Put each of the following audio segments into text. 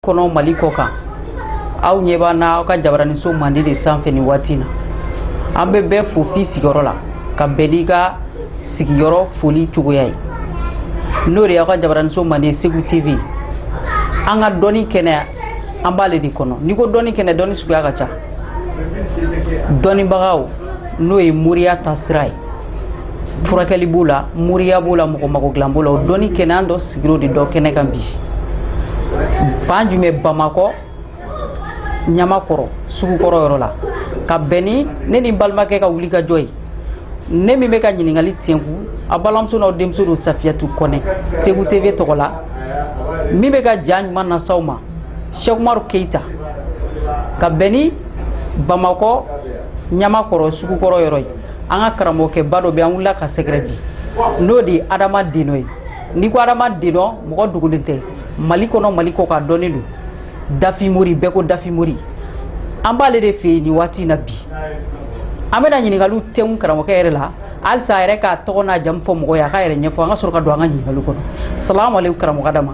kɔnɔ mali kɔ kan aw ɲɛ b'an na aw ka jabaraniso mande de sanfɛ nin waati na an bɛ bɛɛ fo f'i sigiyɔrɔ la ka bɛn n'i ka sigiyɔrɔ foli cogoya ye n'o de y'aw ka jabaraniso mande segu tv an ka dɔnni kɛnɛ an b'ale de kɔnɔ n'i ko dɔnni kɛnɛ dɔnni suguya ka ca dɔnnibagaw n'o ye moriya ta sira ye furakɛli b'o la moriya b'o la mɔgɔ mago dilan b'o la o dɔnni kɛnɛya dɔ sigiyɔrɔ de dɔ kɛnɛ kan bi fan jumɛn bamakɔ ɲamakɔrɔ sugukɔrɔ yɔrɔ la ka bɛn ni ne ni balimakɛ ka wulikajɔ ye ne min bɛ ka ɲininkali tɛnku aw balimamuso n'aw denmuso don safiyatu kɔnɛ segu tv tɔgɔ la min bɛ ka ja ɲuman las'aw ma sɛkumaru keyita ka bɛn ni bamakɔ ɲamakɔrɔ sugukɔrɔ yɔrɔ ye an ka karamɔgɔkɛba dɔ bɛ an wulila k'a sɛgɛrɛ bi n'o de ye adama denɔ ye n'i ko adama denɔ mɔgɔ dogolen tɛ mali kɔnɔ mali kɔ kan a dɔnnen don dafimori bɛɛ ko dafimori an b'ale de fɛ yen nin waati in na bi an bɛna ɲininkaliw tɛnku karamɔgɔkɛ yɛrɛ la walasa a yɛrɛ k'a tɔgɔ n'a jamu fɔ mɔgɔ ye a k'a yɛrɛ ɲɛfɔ an ka sɔrɔ ka don an ka ɲininkaliw kɔnɔ salamu aleykum karamɔgɔ adama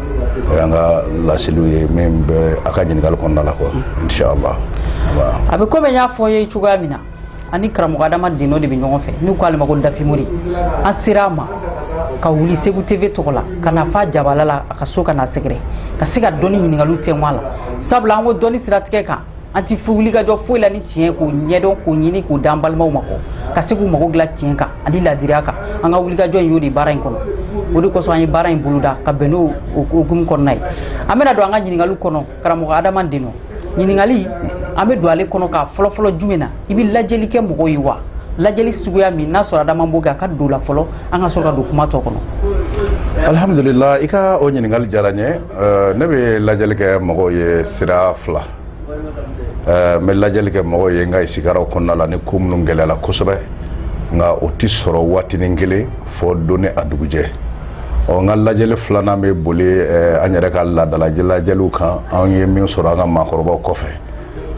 o y'an ka laseliw ye min bɛ a ka ɲininkali kɔnɔna la quoi inshallah a bɛ komi n y'a f'aw ye cogoya min na an ni karamɔgɔ adama denɔ de bɛ ɲɔgɔn fɛ n'u k'ale ma ko dafimori an sera a ma ka wuli segu tv tɔgɔ la ka na fa jabala la a ka so ka n'a sɛgɛrɛ ka se ka dɔnni ɲininkaliw tɛngun a la sabula an ko dɔnni siratigɛ kan an ti wuli ka jɔ foyi la ni tiɲɛ k'o ɲɛdɔn k'o ɲini k'o d'an balimaw ma kɔ ka se k'u mago dilan tiɲɛ kan ani ladiriya kan an ka wulikajɔ in y'o de baara in kɔnɔ o de kosɔn an ye baara in boloda ka bɛn n'o hukumu kɔnɔna ye an bɛna don an ka ɲininkaliw kɔnɔ karamɔgɔ adama denɔ ɲininkali an bɛ don ale kɔnɔ ka fɔlɔ fɔlɔ jumɛn na i bɛ lajɛli kɛ mɔgɔw ye wa lajɛli suguya min n'a sɔrɔ adama b'o kɛ a ka don la fɔlɔ an ka sɔrɔ ka don kuma tɔ kɔnɔ alhamdulila i ka o ɲininkali diyara n ye ne bɛ lajɛli kɛ mɔgɔw ye sira fila ɛɛ n bɛ lajɛli kɛ mɔgɔw ye n ka isikaraw kɔnɔna la ni ko minnu gɛlɛyala kosɛbɛ nka o tɛ sɔrɔ waatinin kelen fo don ni a dugujɛ ɔ n ka lajɛli filanan bɛ boli ɛɛ an yɛrɛ ka laadala lajɛliw kan an ye min sɔrɔ an ka maakɔrɔbaw kɔfɛ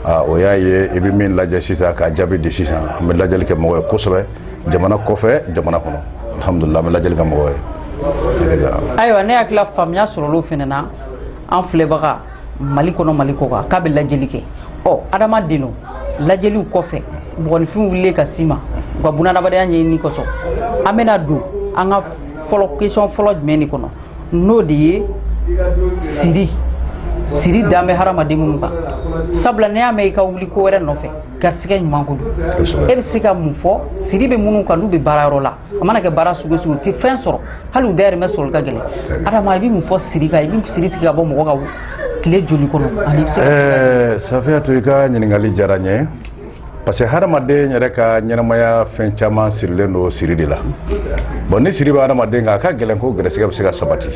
aa o y'a ye i bɛ min lajɛ sisan k'a jaabi di sisan an bɛ lajɛli kɛ mɔgɔw ye kosɛbɛ jamana kɔfɛ jamana kɔnɔ alihamudulila an bɛ lajɛli kɛ mɔgɔw ye. ayiwa ne hakili la faamuya sɔrɔla o fana na an filɛbaga mali kɔnɔ mali kɔ kan k'a bɛ lajɛli kɛ ɔ adama denɔ lajɛliw kɔfɛ mɔgɔninfinw wulilen ka s'i ma u ka bunadamadenya ɲɛɲini kosɔn an bɛna don an ka fɔlɔ question fɔlɔ jumɛn de kɔnɔ n'o de ye siri siri dan bɛ hadamaden minnu kan sabula n'i y'a mɛn i ka wuli ko wɛrɛ nɔfɛ garisigɛ ɲuman ko don e bɛ se ka mun fɔ siri bɛ minnu kan n'u bɛ baarayɔrɔ la a mana kɛ baara sugu sugu u tɛ fɛn sɔrɔ hali u dayirimɛ sɔrɔli ka gɛlɛn adama i bɛ mun fɔ siri kan i bɛ siri tigɛ ka bɔ mɔgɔ kan tile joli kɔnɔ ani i bɛ se ka. ɛɛ safiyatu i ka ɲininkali diyara n ye parce que hadamaden yɛrɛ ka ɲɛnamaya fɛn caman sirilen don siri de la bon ni siri bɛ hadamaden kan a ka gɛlɛn ko gɛrɛsɛgɛ bɛ se ka sabati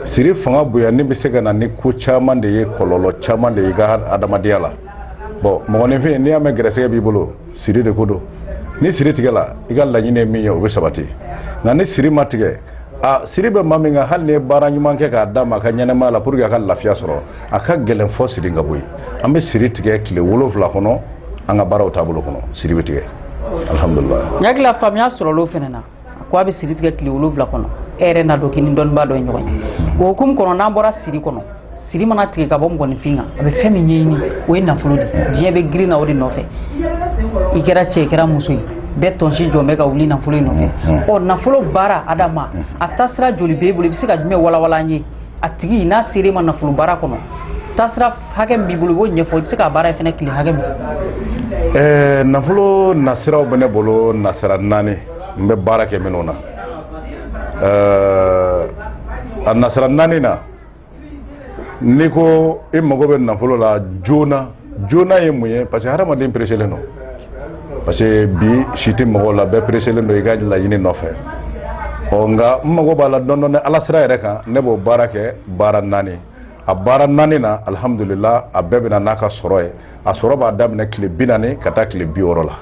siri fanga bonyanni bɛ se ka na ni ko caman de ye kɔlɔlɔ caman de ye i ka hadamadenya la bon mɔgɔninfin n'i y'a mɛn gɛrɛsɛgɛ b'i bolo. siri de ko don ni siri tigɛla i ka laɲini ye min ye o bɛ sabati nka ni siri ma tigɛ a siri bɛ maa min kan hali n'i ye baara ɲuman kɛ k'a d'a ma a ka ɲɛnamaya la pour que a ka lafiya sɔrɔ a ka gɛlɛn fo siri ka bɔ yen an bɛ siri tigɛ tile wolonwula kɔnɔ an ka baaraw taabolo kɔnɔ siri bɛ tigɛ alihamudulila n hakili la faamuya sɔrɔla o fana na ko a bɛ siri tigɛ tile wolonwula kɔnɔ e yɛrɛ n'a dɔn k'i ni dɔnnibaa dɔ ye ɲɔgɔn ye o hukumu kɔnɔ n'an bɔra siri kɔnɔ siri mana tigɛ ka bɔ mɔgɔninfin kan a bɛ fɛn min ɲɛɲini o ye nafolo de diɲɛ bɛ girin na o de nɔfɛ i kɛra cɛ i kɛra muso ye bɛɛ tansiyɔn bɛ ka wuli nafolo in nɔfɛ ɔ nafolo baara adama a taasira joli b'e bolo i bɛ se ka jumɛn walawala an ye a tigi n'a sera i ma nafolo baara kɔnɔ taasira hakɛ min b'i bolo i b'o ɲɛfɔ i bɛ se k'a baara a ye fɛnɛ tile hakɛ min ɛɛ nafolo nasiraw bɛ ne bolo nasira naani n bɛ baara kɛ minnu na ɛɛ a nasira naani na n'i ko i mago bɛ nafolo la joona joona ye mun ye parce que hadamaden pereselen don parce que bi si tɛ mɔgɔw la bɛɛ pereselen don i ka laɲini nɔfɛ ɔ nka n'i mago b'a la dɔndɔni ala sira yɛrɛ kan ne b'o baara kɛ baara naani a baara naani na alihamudulila a bɛɛ bɛ na n'a ka sɔrɔ ye a sɔrɔ b'a daminɛ tile bi naani ka taa tile bi wɔɔrɔ la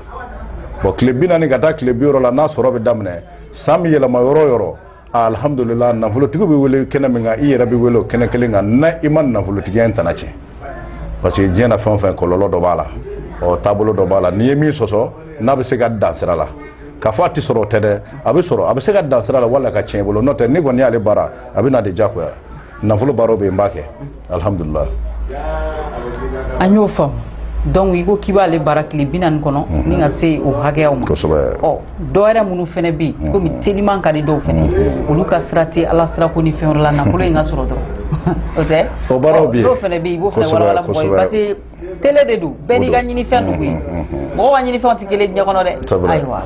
bon tile bi naani ka taa tile bi wɔɔrɔ la n'a sɔrɔ bɛ daminɛ san bɛ yɛlɛma yɔrɔ o yɔrɔ alihamudulila nafolotigi bɛ wele kɛnɛ min kan i yɛrɛ bɛ wele o kɛnɛ kelen kan n'i ma nafolotigiya in tana tiɲɛ parce que diɲɛ na fɛn o fɛn kɔlɔlɔ dɔ b'a la ɔ taabolo dɔ b'a la n'i ye min sɔsɔ n'a bɛ se ka dan sira la k'a fɔ a tɛ sɔrɔ o tɛ dɛ a bɛ sɔrɔ a bɛ se ka dan sira la wala ka tiɲɛ i bolo n'o tɛ n'i kɔni y'ale baara a bɛ na de diyagoya nafolo baaraw bɛ yen n b'a kɛ alihamudulila an y'o faamu donc i ko k'i b'ale baara tile bi naani kɔnɔ mhm. ni ka se o hakɛyaw ma kosɛbɛ ɔ dɔwɛrɛ minnu fana bɛ yen mhm. komi teliman ka di dɔw fana mhm. olu ka sira tɛ ala sira ko ni fɛn wɛrɛ la nafolo in ka sɔrɔ dɔrɔn o tɛ o baaraw bɛ yen dɔw fana bɛ yen i b'o fana walawala mɔgɔ ye parce que tele de don bɛɛ n'i ka ɲinifɛn de ko ye mɔgɔw ka ɲinifɛnw tɛ kelen diɲɛ kɔnɔ dɛ ayiwa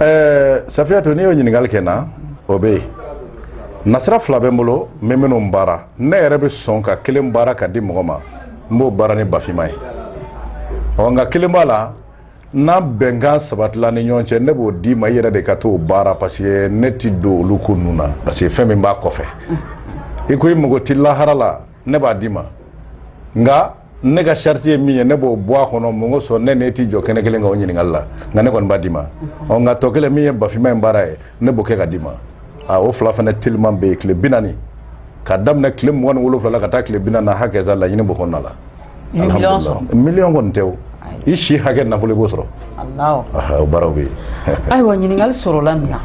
ɛɛ safiyatu n'i y'o ɲininkali kɛ n na o bɛ yen nasira fila bɛ n bolo n bɛ minnu baara ne yɛrɛ bɛ sɔn ka kelen baara ka di mɔgɔ ma n b'o baara ni ba finman ye ɔ nka kelen b'a la n'an bɛnkan sabatila ni ɲɔgɔn cɛ ne b'o d'i ma i yɛrɛ de ka t'o baara parce que ne ti don olu ko ninnu na parce que fɛn min b'a kɔfɛ i ko i mago ti lahara la ne b'a d'i ma nka ne ka charge ye min ye ne b'o bɔ a kɔnɔ mun kosɔn ne n'e ti jɔ kɛnɛ kelen kan o ɲininkali la nka ne kɔni b'a d'i ma ɔ nka tɔ kelen min ye bafinma in baara ye ne b'o kɛ ka d'i ma a o fila fana teliman bɛ yen tile bi naani ka daminɛ tile mugan ni wolonwula la ka taa tile bi naani na hakɛ sa laɲini b'o kɔnɔna la miliyɔn kɔni tɛ o i si hakɛ nafolo i b'o sɔrɔ baaraw bɛ ayiwa ɲininkali sɔrɔla min na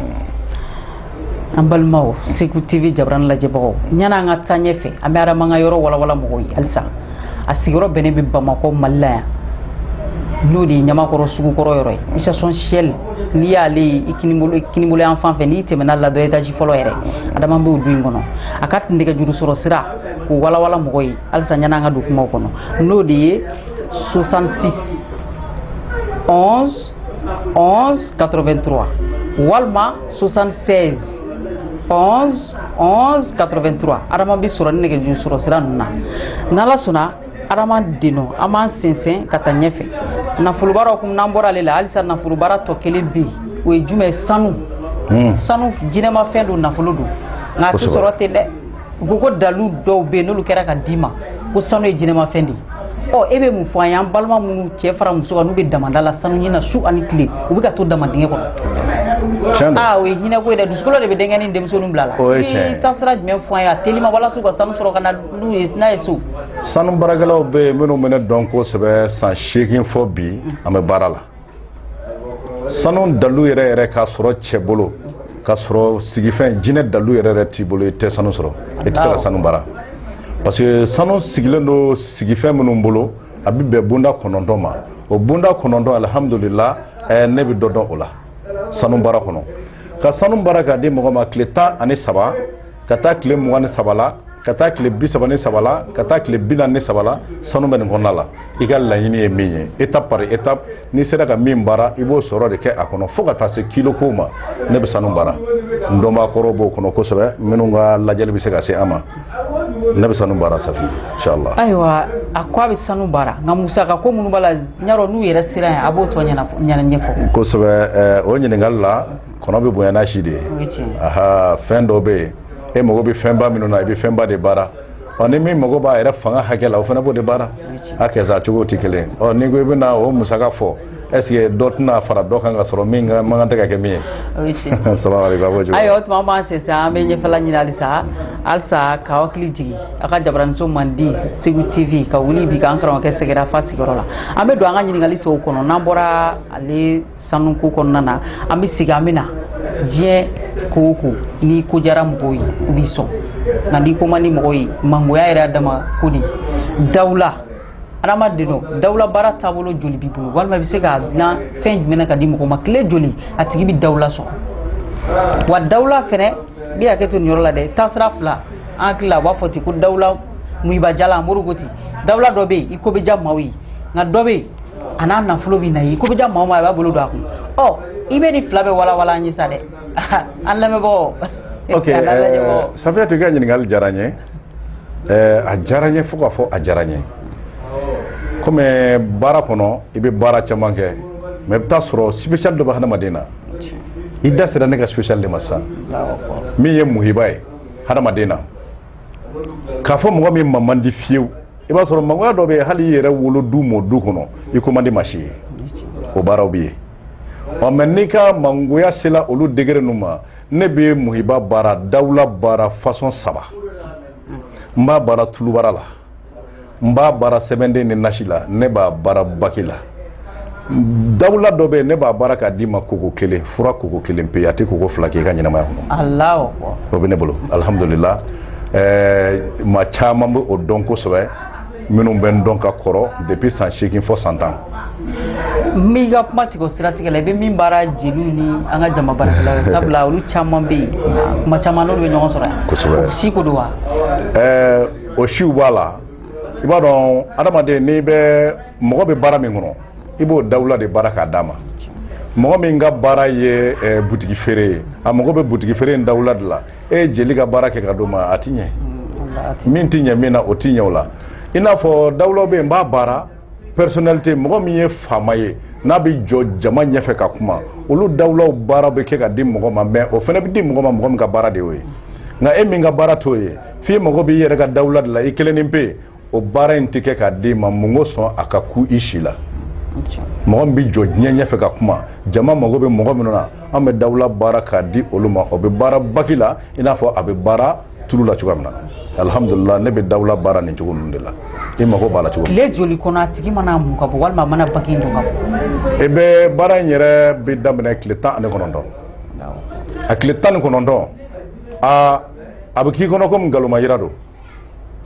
an balimaw segu tv jara lajɛbagaw yann'an ka taa ɲɛ fɛ an bɛ adama ka yɔrɔ wawa mɔgɔw ye halisa a sigiyɔrɔ bɛnnen bɛ bamakɔ mali la yan n'o de ye ɲamakɔrɔ sugukɔrɔ yɔrɔ ye station shell n'i y'ale ye i kininbolo yan fan fɛ n'i tɛmɛna ladɔ étage fɔlɔ yɛrɛ adama b'o du in kɔnɔ a ka tun nɛgɛjuru sɔrɔ sira ko wawa mɔgɔ ye halisa yann'an ka don kuma kɔnɔ n'o de ye 66 11 11 83 walima 76 11 11 83 adama bɛ sɔrɔ ni nɛgɛjuru sɔrɔ sira ninnu na n'ala sɔnna adama denɔn an b'an sɛnsɛn ka taa ɲɛfɛ nafolo baara kun n'an bɔra ale la halisa nafolo baara tɔ kelen bɛ yen o ye jumɛn ye sanu hmm. sanu jinɛmafɛn don nafolo don nka a tɛ sɔrɔ ten dɛ u ko ko dalu dɔw bɛ yen n'olu kɛra ka d'i ma ko sanu ye jinɛmafɛn de ye ɔ e bɛ mun fɔ an ye an balima minnu cɛ fara muso kan n'u bɛ damada la sanu ɲina su ani tile u bɛ ka to dama dingɛ kɔnɔ tiɲɛ don aa o ye hinɛko ye dɛ dusukolo de bɛ denkɛ ni denmusoninw bila la O ye tiɲɛ ye. i taasira jumɛn fɔ an ye a telima walasa u ka sanu sɔrɔ ka na n'u ye n'a ye so sanu baarakɛlaw bɛ yen minnu bɛ ne dɔn kosɛbɛ san seegin fo bi an bɛ baara la sanu dalu yɛrɛ yɛrɛ k'a sɔrɔ cɛ bolo k'a sɔrɔ sigifɛn jinɛ dalu yɛrɛ yɛrɛ t'i bolo i tɛ sanu sɔrɔ i tɛ se ka sanu baara parce que sanu sigilen don sigifɛn minnu bolo a bɛ bɛn bonda kɔnɔntɔn ma o bonda kɔnɔntɔn alihamudulila eh, ne bɛ dɔ dɔn o la sanu baara kɔnɔ ka sanu baara k'a di mɔgɔ ma tile tan ani saba ka taa tile mugan ni saba la ka taa tile bi saba ni saba la ka taa tile bi naani ni saba la sanu bɛ nin kɔnɔna la i ka laɲini ye min ye étape par étape n'i sera ka min baara i b'o sɔrɔ de kɛ a kɔnɔ fo ka taa se kilo ko ma ne bɛ sanu baara n dɔnbaa kɔrɔw b'o kɔnɔ kosɛbɛ minnu ka lajɛli bɛ se ka se an ma ne bɛ sanu baara safi inshallah ayiwa a ko a bɛ sanu baara nka musaka ko minnu b'a la n y'a dɔn n'u yɛrɛ sera yan a b'o tɔ ɲɛnafɔ ɲɛfɔ kosɛbɛ o ɲininkali la kɔnɔ bɛ bonya n'a si de ye aha fɛn dɔ bɛ yen e mago bɛ fɛnba minnu na i bɛ fɛnba de baara ɔ ni min mago b'a yɛrɛ fanga hakɛ la o fana b'o de baara a kɛsa cogo tɛ kelen ɔ ni ko i bɛna o musaka fɔ est-ce que dɔ tɛna fara dɔ kan ka sɔrɔ min ka man kan tɛ ka kɛ min ye ayiwa o tuma an b'an sɛnsɛn an bɛ ɲɛfɛla ɲini halisa halisa k'a hakili jigin a ka jabaraninso mandi segu tv ka wuli bi k'an karamɔgɔkɛ sɛgɛrɛ f'a sigiyɔrɔ la an bɛ don an ka ɲininkali tɔw kɔnɔ n'an bɔra ale sanu ko kɔnɔna na an bɛ sigi an bɛ na diɲɛ ko o ko n'i ko diyara mɔgɔw ye u b'i sɔn nka n'i ko man di mɔgɔw ye mangoya yɛrɛ y'a dama ko de ye dawula adamaden dɔ dawula baara taabolo joli b'i bolo walima i bɛ se k'a dilan fɛn jumɛn na ka di mɔgɔ ma tile joli a tigi bɛ dawula sɔrɔ wa dawula fɛnɛ n bɛ hakɛ to nin yɔrɔ la dɛ taasira fila an hakili la u b'a fɔ ten ko dawula muhiba jala an b'o de ko ten dawula dɔ bɛ yen i ko bɛ diya maaw ye nka dɔ bɛ yen a n'a nafolo bɛ na i ye i ko bɛ diya maa o maa a b'a bolo don a kun ɔ i bɛ nin fila bɛɛ walawala an ye sa dɛ an lamɛnbagaw ok safiyatu i ka ɲininkali diyara n ye a diyara n ye fo k'a fɔ a diyara n ye komi baara kɔnɔ i bɛ baara caman kɛ mais i bɛ t'a sɔrɔ sipesiyali dɔ bɛ hadamaden na i da sera ne ka sipesiyali de ma sisan min ye muhiba ye hadamaden na k'a fɔ mɔgɔ min ma man di fiyewu i b'a sɔrɔ mangoya dɔ bɛ yen hali i yɛrɛ wolo du mɔ du kɔnɔ i ko man di maa si ye o baaraw bɛ yen ɔ mais n'i ka mangoya sela olu degere ninnu ma ne bɛ muhiba baara dawula baara fasɔn saba n b'a baara tulubara la n b'a baara sɛbɛnden ni nasi la ne b'a baara baki la dawula dɔ bɛ yen ne b'a baara k'a d'i ma koko kelen fura koko kelen pe a tɛ koko fila k'i ka ɲɛnamaya kɔnɔ Alahu akbar. o bɛ ne bolo alihamudulila ɛɛ maa caman bɛ o dɔn kosɛbɛ minnu bɛ n dɔn ka kɔrɔ depuis san seegin fo san tan n b'i ka kuma tigɛ o siratigɛ la i bɛ min baara jeliw ni an ka jama baarakɛlaw ye sabula olu caman bɛ yen kuma caman n'olu bɛ ɲɔgɔn sɔrɔ yan Kosɛbɛ. o si ko don wa ɛɛ o siw b'a la i b'a dɔn adamaden n'i bɛ mɔgɔ bɛ baara min kɔnɔ i b'o dawula de baara k'a d'a ma mɔgɔ min ka baara ye eh, butigi feere ye a mago bɛ butigi feere in dawula de la e ye jeli ka baara kɛ ka d'o ma a ti ɲɛ min ti ɲɛ min na o ti ɲɛ o la i n'a fɔ dawulaw bɛ yen n b'a baara personnalité mɔgɔ min ye faama ye n'a bɛ jɔ jama ɲɛfɛ ka kuma olu dawulaw baara bɛ kɛ ka di mɔgɔ ma mais o fana bɛ di mɔgɔ ma mɔgɔ min ka baara de y'o ye nka e min ka baara t'o ye f'i mago b'i yɛrɛ ka dawula de la i kelennin pe o baara in tɛ kɛ k'a d'i ma mun kosɔn a ka ku i si la mɔgɔ min bɛ jɔ diɲɛ ɲɛfɛ ka kuma jama mago bɛ mɔgɔ minnu na an bɛ dawula baara k'a di olu ma o bɛ baara baki la i n'a fɔ a bɛ baara tulu la cogoya min na alihamudulila ne bɛ dawula baara nin cogo ninnu de la i mago b'a la cogo min tile joli kɔnɔ a tigi man'a mun ka bɔ walima a mana baki don ka bɔ i bɛ baara in yɛrɛ bɛ daminɛ tile tan ani kɔnɔntɔn a tile tan ni kɔnɔntɔn a a bɛ k'i kɔnɔ komi nkalonma yira don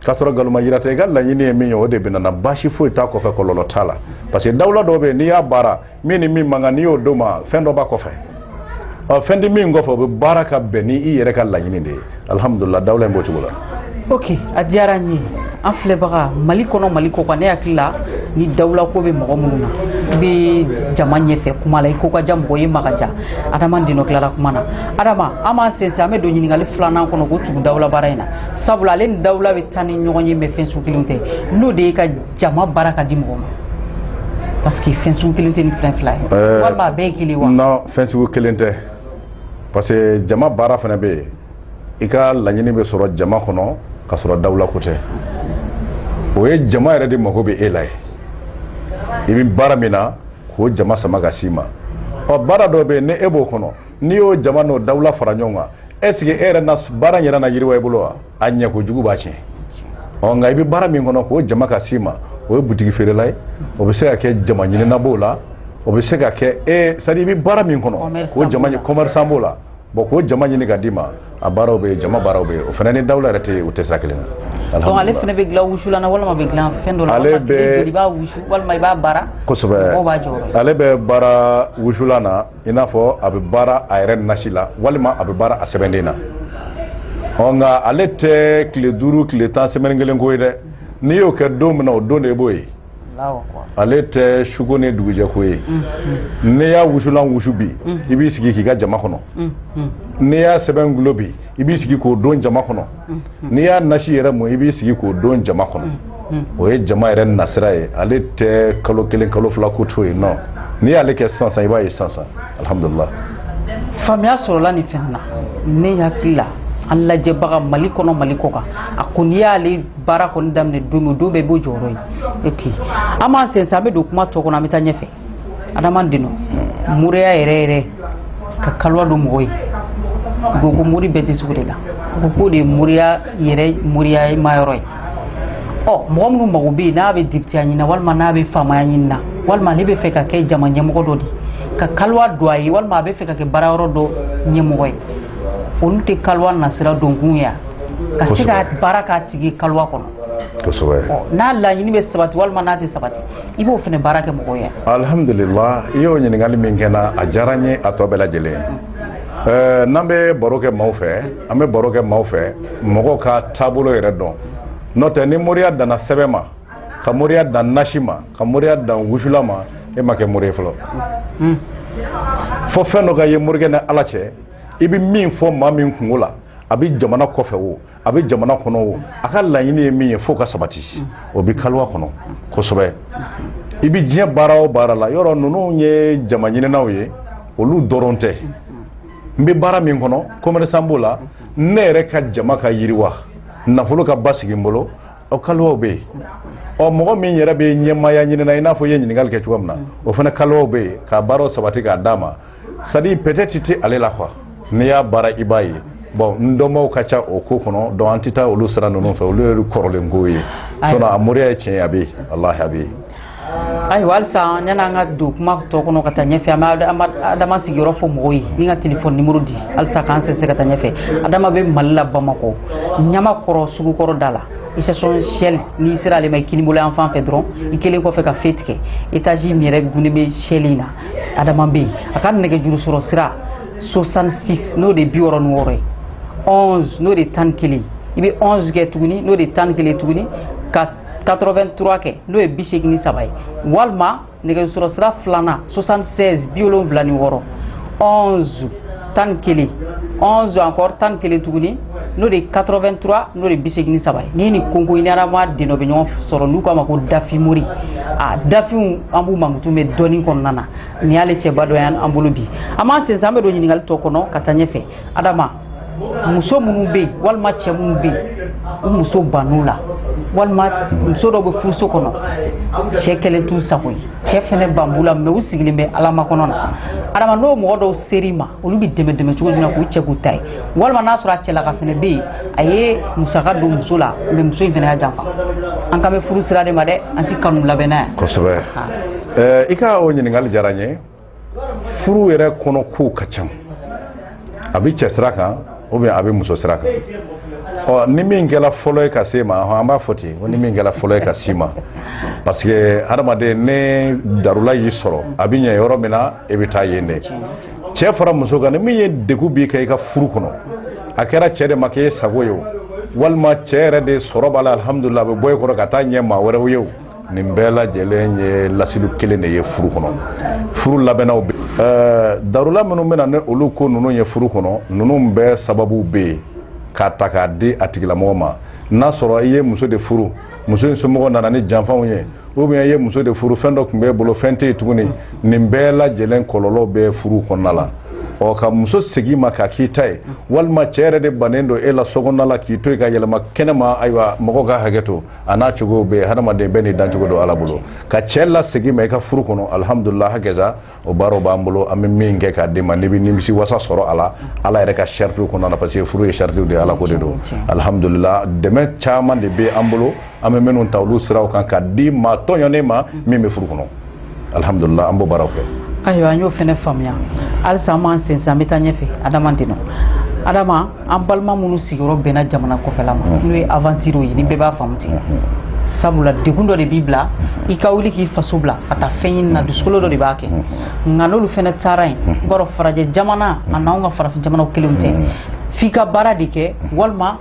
k'a sɔrɔ nkalonma yira tɛ i ka laɲini ye min ye o de bɛ na na baasi foyi t'a kɔfɛ kɔlɔlɔ t'a la parce que dawula dɔw bɛ yen n'i y'a baara min ni min man kan n'i y'o d'o ma fɛn dɔ b'a kɔfɛ ɔ fɛn tɛ min kɔfɛ o bɛ baara ka bɛn ni i yɛrɛ ka laɲini de ye alihamudulila dawula in b'o cogo la. ok a diyara n ye an filɛbaga mali kɔnɔ mali kɔ kan ne hakili la ni dawula ko bɛ mɔgɔ minnu na i bɛ jama ɲɛfɛ kuma la i ko ka diya mɔgɔ ye ma ka diya adama deno tilara kuma na adama an b'an sɛnsɛn an bɛ don ɲininkali filanan kɔnɔ k'o tugu dawula baara in na sabula ale ni dawula bɛ taa ni ɲɔgɔn ye mais fɛn sugu kelenw tɛ n'o de ye ka jama baara ka di mɔgɔ ma parce que fɛn sugu kelen tɛ ni fɛn fila ye Ɛɛ, walima a bɛɛ ye kelen wa non fɛn sugu kelen tɛ parce que jama baara fana bɛ yen i ka laɲini bɛ sɔrɔ jama kɔnɔ k'a sɔrɔ dawula ko tɛ o ye jama yɛrɛ de mago bɛ e la ye i bɛ baara min na k'o jama sama ka s'i ma ɔ baara dɔ bɛ yen ni e b'o kɔnɔ n'i y'o jama n'o dawula fara ɲɔgɔn kan est ce que e yɛrɛ na baara in yɛrɛ na yiriwa i bolo wa a ɲɛ kojugu b'a tiɲɛ ɔ nka i bɛ baara min kɔnɔ k'o jama ka s'i ma o ye butigi feerela ye o bɛ se ka kɛ jama ɲinina b'o la o bɛ se ka kɛ c'est-à-dire i bɛ baara min kɔnɔ k'o jama kɔmɛrisan b'o la bon k'o jama ɲini ka d'i ma a baaraw bɛ yen jama baaraw bɛ yen o fana ni dawula yɛrɛ tɛ yen o tɛ sira kelen na donc ale fana bɛ dilan wusulan na walima bɛ dilan fɛn dɔ la ale bɛ i b'a wusu walima i b'a baara kosɛbɛ mɔgɔw b'a jɔyɔrɔ ye ale bɛ baara wusulan na i n'a fɔ a bɛ baara a yɛrɛ nasi la walima a bɛ baara a sɛbɛnden na ɔ nka ale tɛ tile duuru tile tan semaine kelen ko ye dɛ n'i y'o kɛ don min na o don de b'o ye ale tɛ su ko ni dugujɛ ko ye n'i y'a wusulan wusu bi i b'i sigi k'i ka jama kɔnɔ n'i y'a sɛbɛn gulo bi i b'i sigi k'o don jama kɔnɔ n'i y'a nasi yɛrɛ mu i b'i sigi k'o don jama kɔnɔ o ye jama yɛrɛ nasira ye ale tɛ kalo kelen kalo fila ko to ye non n'i y'ale kɛ sisan i b'a ye sisan alihamudulila faamuya sɔrɔla nin fɛn na ne hakili la an lajɛbaga mali kɔnɔ mali kɔ kan a ko n'i y'ale baara kɔni daminɛ don o don bɛɛ b'o jɔyɔrɔ ye ok an b'an sɛnsɛn an bɛ don kuma tɔ kɔnɔ an bɛ taa ɲɛfɛ adama deno moriya yɛrɛ yɛrɛ ka kaliwa don mɔgɔ ye u ko ko mori bɛɛ tɛ se o de la u ko k'o de ye moriya yɛrɛ moriyama yɔrɔ ye ɔ mɔgɔ minnu mago bɛ yen n'a bɛ depiteya ɲini na walima n'a bɛ faamaya ɲini na walima ale bɛ fɛ ka kɛ jama ɲɛmɔgɔ dɔ de ye ka kaliwa don a ye walima a bɛ fɛ ka kɛ baara yɔrɔ dɔ ɲɛmɔgɔ ye olu tɛ kaliwa nasira donkun ye ka se ka baara k'a tigi kaliwa kɔnɔ n'a laɲini bɛ sabati walima n'a tɛ sabati i b'o fana baara kɛ mɔgɔw ye alhamdulillah i y'o ɲininkali min kɛ na a diyara n ye a tɔ bɛɛ lajɛlen eh, n'an bɛ baro kɛ maaw fɛ an bɛ baro kɛ maaw fɛ mɔgɔw k'a taabolo yɛrɛ dɔn n'o tɛ ni moriya danna sɛbɛn ma ka moriya dan nasi ma ka moriya dan wusulan ma e ma kɛ mori ye fɔlɔ hmm. fo fɛn dɔ ka ye morikɛ ni ala cɛ i bɛ min fɔ maa min kunko la a bɛ jamana kɔfɛ o a bɛ jamana kɔnɔ o a ka laɲini ye min ye fo ka sabati o bɛ kaliwa kɔnɔ kosɛbɛ i bɛ diɲɛ baara o baara la yɔrɔ ninnu ye jama ɲininaw ye olu dɔrɔn tɛ n bɛ baara min kɔnɔ commerçant b'o la ne yɛrɛ ka jama ka yiriwa nafolo ka basigi n bolo ɔ kaliwaw bɛ yen ɔ mɔgɔ min yɛrɛ bɛ ɲɛmaaya ɲinina i n'a fɔ i ye ɲininkali kɛ cogoya min na o fana kaliwaw bɛ yen ka baaraw sabati k'a d'a ma c'est-à-dire peut-être tɛ ale la quoi n'i y'a baara i b'a ye bon n dɔnbaaw ka ca o ko kɔnɔ donc an tɛ taa olu sira ninnu fɛ olu ye kɔrɔlen ko ye sinon a moriya ye tiɲɛ a bɛ yen walahi a bɛ yen ayiwa halisa yanni an ka don kuma tɔ kɔnɔ ka taa ɲɛfɛ an bɛ adama sigiyɔrɔ fɔ mɔgɔw ye ni ka telefɔni nimɔrɔ di halisa k'an sɛnsɛn ka taa ɲɛfɛ adama bɛ mali la bamakɔ ɲamakɔrɔ sugukɔrɔ da la station shell n'i sera ale ma i kinibolo yan fan fɛ dɔrɔn i kɛlen kɔfɛ ka feu tigɛ etazi min yɛrɛ gunnen bɛ shell in na adama bɛ yen a ka nɛgɛjuru sɔrɔ sira 66 n'o de bi wɔɔrɔ ni wɔɔrɔ ye 11 n'o de tan ni kelen ye i bɛ 11 kɛ tuguni n'o de tan ni kelen tuguni ka 83 kɛ n'o de bi seegin ni saba ye walima nɛgɛjuru sɔrɔ sira filanan 76 bi wolonwula ni wɔɔrɔ 11 tan kelen onze encore tan kelen tuguni n'o de ye 83 n'o de ye bi seegin ni saba ye ni nin kɔnkɔn i ni adama deno bɛ ɲɔgɔn sɔrɔ n'u k'a ma ko dafin mori a dafinw an b'u mankutu mɛ dɔnni kɔnɔna na nin y'ale cɛba dɔ y'an bolo bi an b'an sɛnsɛn an bɛ don ɲininkali tɔ kɔnɔ ka taa ɲɛfɛ adama muso minnu bɛ yen walima cɛ minnu bɛ yen u muso bann'u la walima muso dɔ bɛ furuso kɔnɔ cɛ kɛlen t'u sago ye cɛ fɛnɛ ban b'u la mais u sigilen bɛ ala makɔnɔ na adama n'o mɔgɔ dɔw ser'i ma olu bɛ dɛmɛ dɛmɛ cogo jumɛn k'u cɛ k'u ta ye walima n'a sɔrɔ a cɛlaka fɛnɛ bɛ yen a ye musaka don muso la mais muso in fɛnɛ y'a janfa an kan bɛ furu sira de ma dɛ an ti kanu labɛn na yan kosɛbɛ i ka o ɲininkali diyara n ye furu yɛrɛ kɔnɔ kow ka ca a bɛ cɛ sira kan ou bien a bɛ muso sira kan ɔ ni min kɛra fɔlɔ ye ka s'i ma hɔn an b'a fɔ ten ko ni min kɛra fɔlɔ ye ka s'i ma parce que hadamaden ni darula y'i sɔrɔ a bɛ ɲɛ yɔrɔ min na e bɛ taa yen dɛ cɛ fara muso kan ni min ye degun b'i kan i ka furu kɔnɔ a kɛra cɛ de ma k'e sago ye o walima cɛ yɛrɛ de sɔrɔ b'a la alihamudulila a bɛ bɔ e kɔrɔ ka taa ɲɛ maa wɛrɛw ye o nin bɛɛ lajɛlen ye lasili kelen de ye furu kɔnɔ furu labɛnnaw bɛ ɛɛ darula minnu bɛna ni olu ko ninnu ye furu kɔnɔ ninnu bɛɛ sababu bɛ yen k'a ta k'a di a tigilamɔgɔ ma n'a sɔrɔ i ye muso de furu muso in somɔgɔ nana ni janfaw ye ou bien i ye muso de furu fɛn dɔ tun b'e bolo fɛn tɛ yen tuguni nin bɛɛ lajɛlen kɔlɔlɔ bɛ furu kɔnɔna la ɔ ka muso segin i ma k'a k'i ta ye walima cɛ yɛrɛ de bannen don e la sokɔnɔna la k'i to yen ka yɛlɛma kɛnɛma ayiwa mɔgɔw ka hakɛ to a n'a cogow bɛ hadamaden bɛɛ n'i dancogo don ala bolo ka cɛ lasegin i ma i ka furu kɔnɔ alhamdulila hakɛza o baaraw b'an bolo an bɛ min kɛ k'a d'i ma n'i bɛ nimisi wasa sɔrɔ a la ala yɛrɛ ka saratiw kɔnɔna na parce que furu ye sarati de ye ala ko de don alhamdulila dɛmɛ caman de bɛ an bolo an bɛ minnu ta olu siraw kan ka di maa tɔɲɔnen ma min bɛ furu kɔnɔ alihamudulila an b'o baaraw kɛ ayiwa an y'o fana faamuya halisa an b'an sensan an bɛ taa ɲɛfɛ adama deno adama an balima minnu sigiyɔrɔ bɛnna jamana kɔfɛla ma n'o ye aventure ye ni bɛɛ b'a faamu ten sabula degun dɔ de b'i bila i ka wuli k'i faso bila ka taa fɛn ɲini na dusukolo dɔ de b'a kɛ nka n'olu fana taara yen i b'a dɔn farajɛ jamana a n'anw ka farafin jamanaw kelen tɛ f'i ka baara de kɛ walima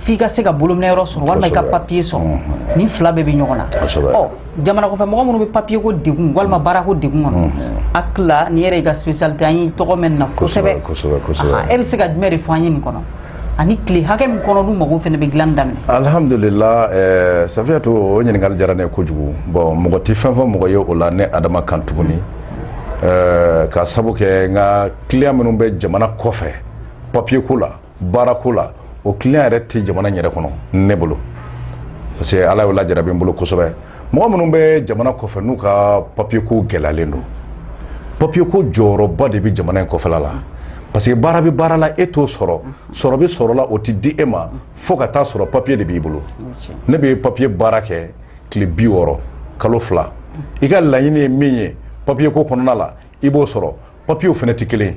f'i ka se ka bolominɛ yɔrɔ sɔrɔ walima i ka papiye sɔrɔ mm-hmm. nin fila bɛɛ bɛ ɲɔgɔn na ɔ jamana kɔfɛ mɔgɔ minnu bɛ papiye ko degun walima baara ko degun kɔnɔ mm-hmm. a tila ni yɛrɛ i ka spécialité an y'i tɔgɔ mɛn na kosɛbɛ e bɛ se ka jumɛn de fɔ an ye nin kɔnɔ ani tile hakɛ min kɔnɔ u mago fana bɛ dilan daminɛ ayiwa alhamdulila eh, safiyatu o ɲininkali diyara ne ye kojugu bɔn mɔgɔ tɛ fɛn fɔ mɔgɔ ye o la ne adama kan tuguni eh, ka sabu kɛ n ka kiliyan minnu bɛ jamana kɔfɛ papiye ko la baarako la o client yɛrɛ tɛ jamana in yɛrɛ kɔnɔ ne bolo parce que ala y'o lajarabi n bolo kosɛbɛ mɔgɔ minnu bɛ jamana kɔfɛ n'u ka papier ko gɛlɛyalen don papier ko jɔyɔrɔba de bɛ jamana in kɔfɛla la parce que baara bɛ baara la e t'o sɔrɔ sɔrɔ bɛ sɔrɔ la o tɛ di e ma fo ka t'a sɔrɔ papier de b'i bolo ne bɛ papier baara kɛ tile bi wɔɔrɔ kalo fila i ka laɲini ye min ye papier ko kɔnɔna la i b'o sɔrɔ papiyew fana tɛ kelen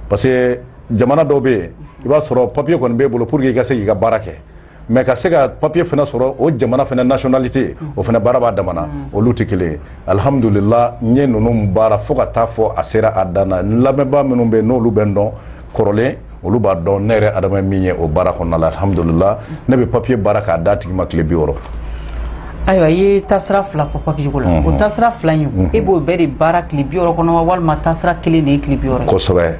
parce que jamana dɔw bɛ yen i b'a sɔrɔ papiye kɔni b'e bolo pour que i ka se k'i ka baara kɛ mais ka se ka papiye fana sɔrɔ o jamana fana nationalité o fana baara b'a dama na olu tɛ kelen ye alhamdulillah n ye ninnu baara fo ka t'a fɔ a sera a dan na n lamɛnbaa minnu bɛ yen n'olu bɛ n dɔn kɔrɔlen olu b'a dɔn ne yɛrɛ adama min ye o baara kɔnɔna la alhamdulila ne bɛ papiye baara k'a d'a tigi ma tile bi wɔɔrɔ ayiwa i ye taasira fila fɔ papiye ko la o mhm. taasira fila in mhm. e b'o bɛɛ de baara tile bi wɔɔrɔ kɔnɔ wa walima taasira kelen de ye tile bi wɔɔrɔ ye kosɛbɛ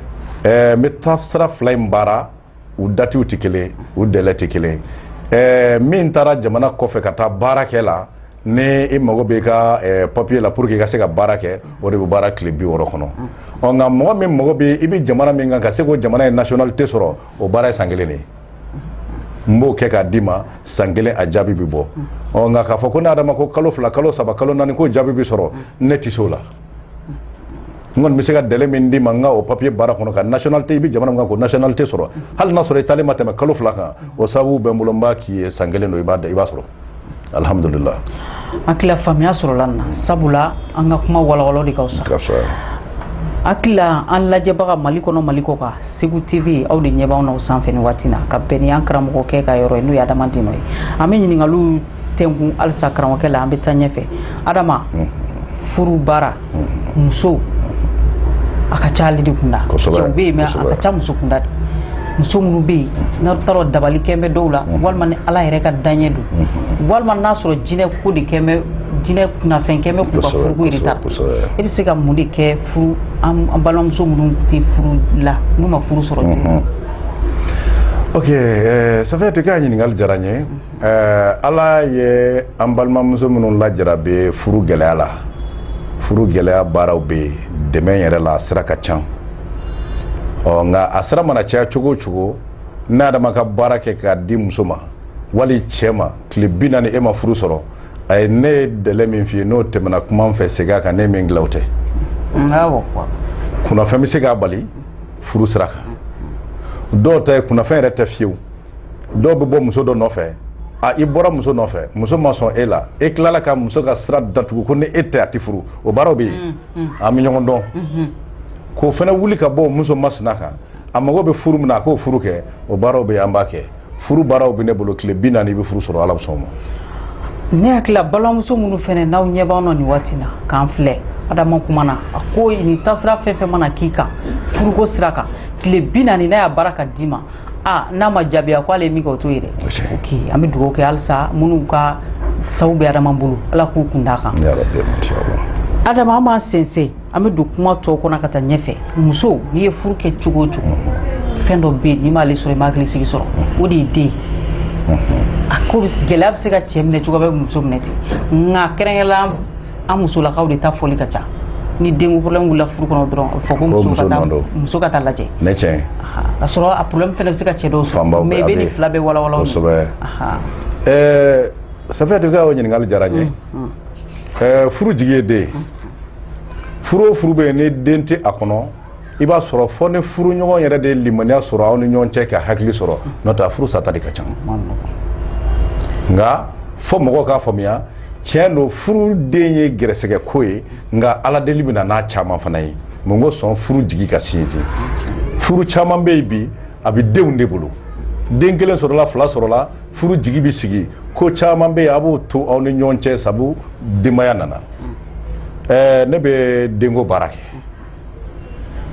ɛɛ n bɛ taasira fila in baara u datiw tɛ kelen u dɛlɛ tɛ kelen ɛɛ min taara jamana kɔfɛ ka taa baara kɛ la ni i mago bɛ ka eh, papier la pour que i ka se ka baara kɛ o de bɛ baara tile bi wɔɔrɔ kɔnɔ ɔ nka mɔgɔ min mago bɛ i bɛ jamana min kan ka se k'o jamana in nationalité sɔrɔ o baara ye san kelen de ye n b'o kɛ k'a d'i ma san kelen a jaabi bɛ bɔ ɔ nka k'a fɔ ko ne adama ko kalo fila kalo saba kalo naani k'o jaabi bɛ sɔrɔ ne tɛ se o la n kɔni bɛ se ka dɛlɛ min d'i ma n ka o papiye baara kɔnɔ ka nationalité i bɛ jamana min kan k'o nationalité sɔrɔ hali n'a sɔrɔ i taalen ma tɛmɛ kalo fila kan o sababu bɛ n bolo n b'a k'i ye san kelen don i b'a da i b'a sɔrɔ alhamdulillah hakili la faamuya sɔrɔla na sabula an ka kuma walawala de ka fisa hakili la an lajɛbaga mali kɔnɔ mali kɔkan segu tv aw de ɲɛ b'anw na o sanfɛ nin waati na ka bɛn ni an karamɔgɔkɛ ka yɔrɔ ye n'o ye adama dino ye an bɛ ɲininkaliw tɛnkun halisa karamɔgɔkɛ la an bɛ taa ɲɛfɛ adama furu baara muso a ka ca ale de kunda cɛw bɛ yen mais a ka ca muso kunda de muso minnu bɛ yen n'a taara dabali kɛn bɛ dɔw la walima ni ala yɛrɛ ka daɲɛ don walima n'a sɔrɔ jinɛ ko de kɛn bɛ jinɛ kunnafɛn kɛn bɛ k'u ka furuko yɛrɛ ta e bɛ se ka mun de kɛ furu an balimamuso minnu tɛ furu la n'u ma furu sɔrɔ ok safiyatu ka ɲininkali diyara n ye ɛɛ ala ye an balimamuso minnu lajarabi furu gɛlɛya la furu gɛlɛya baaraw bɛ yen dɛmɛ yɛrɛ la a sira ka ca ɔ nka a sira mana caya cogo o cogo ne adama ka baara kɛ k'a di muso ma wali cɛ ma tile bi naani e ma furu sɔrɔ a ye ne ye délai min f'i ye n'o tɛmɛna kuma n fɛ segin a kan ne min dilan o tɛ kunnafɛn bɛ se k'a bali furu sira kan dɔw ta kunnafɛn yɛrɛ tɛ fewu dɔw bɛ bɔ muso dɔ nɔfɛ a i bɔra muso nɔfɛ muso ma sɔn e la e tilala ka muso ka sira datugu ko ni e tɛ a tɛ furu o baaraw bɛ yen mm, mm. an bɛ ɲɔgɔn dɔn mm-hmm. k'o fana wuli ka bɔ muso masina kan a mago bɛ furu min na a k'o furu kɛ o baaraw bɛ yen an b'a kɛ furu baaraw bɛ ne bolo tile bi naani i bɛ furu sɔrɔ ala bɛ sɔn a ma ne hakili la balimamuso minnu fana n'aw ɲɛ b'an na nin waati in na k'an filɛ adama kuma na a ko nin tasira fɛn o fɛn mana k'i kan furuko sira kan tile bi naani n'a y'a baara ka d'i ma aa n'a ma jaabiya ko ale ye min kɛ o t'o ye dɛ ok an bɛ dugawu kɛ halisa minnu ka sabu bɛ adama bolo ala k'u kun d'a kan adama an b'an sɛnsɛn an bɛ don kuma tɔw kɔnɔ ka taa ɲɛfɛ muso n'i ye furu kɛ cogo o cogo mhm. fɛn dɔ bɛ yen n'i m'ale sɔrɔ i ma hakili sigi sɔrɔ mhm. o de ye den ye mhm. a ko gɛlɛya bɛ se ka cɛ minɛ cogo a bɛ muso minɛ ten nka kɛrɛnkɛrɛnnenya an musolakaw de ta fɔli ka ca ni denko problème wulila furu kɔnɔ dɔrɔn a bɛ fɔ ko muso ka taa muso ka taa lajɛ ne tiɲɛ ka sɔrɔ a problème fana bɛ se ka cɛ dɔw sɔrɔ mais i bɛ nin fila bɛɛ walawala kosɛbɛ ɛɛ Safiyatu ka o ɲininkali diyara n ye ɛɛ furu jigi ye den ye furu o furu bɛ yen ni den tɛ a kɔnɔ i b'a sɔrɔ fo ni furuɲɔgɔn yɛrɛ de ye limaniya sɔrɔ aw ni ɲɔgɔn cɛ ka hakili sɔrɔ n'o tɛ a furu sata de ka ca nka fo mɔgɔw k'a faamuya tiɲɛ don furu den ye garisɛgɛ ko ye nka ala deli bɛ na n'a caman fana ye mun kosɔn furu jigi ka sinsin furu caman bɛ yen bi a bɛ denw de bolo den kelen sɔrɔla fila sɔrɔla furu jigi bɛ sigi ko caman bɛ yen a b'o to aw ni ɲɔgɔn cɛ sabu denbaya nana ɛɛ ne bɛ denko baara kɛ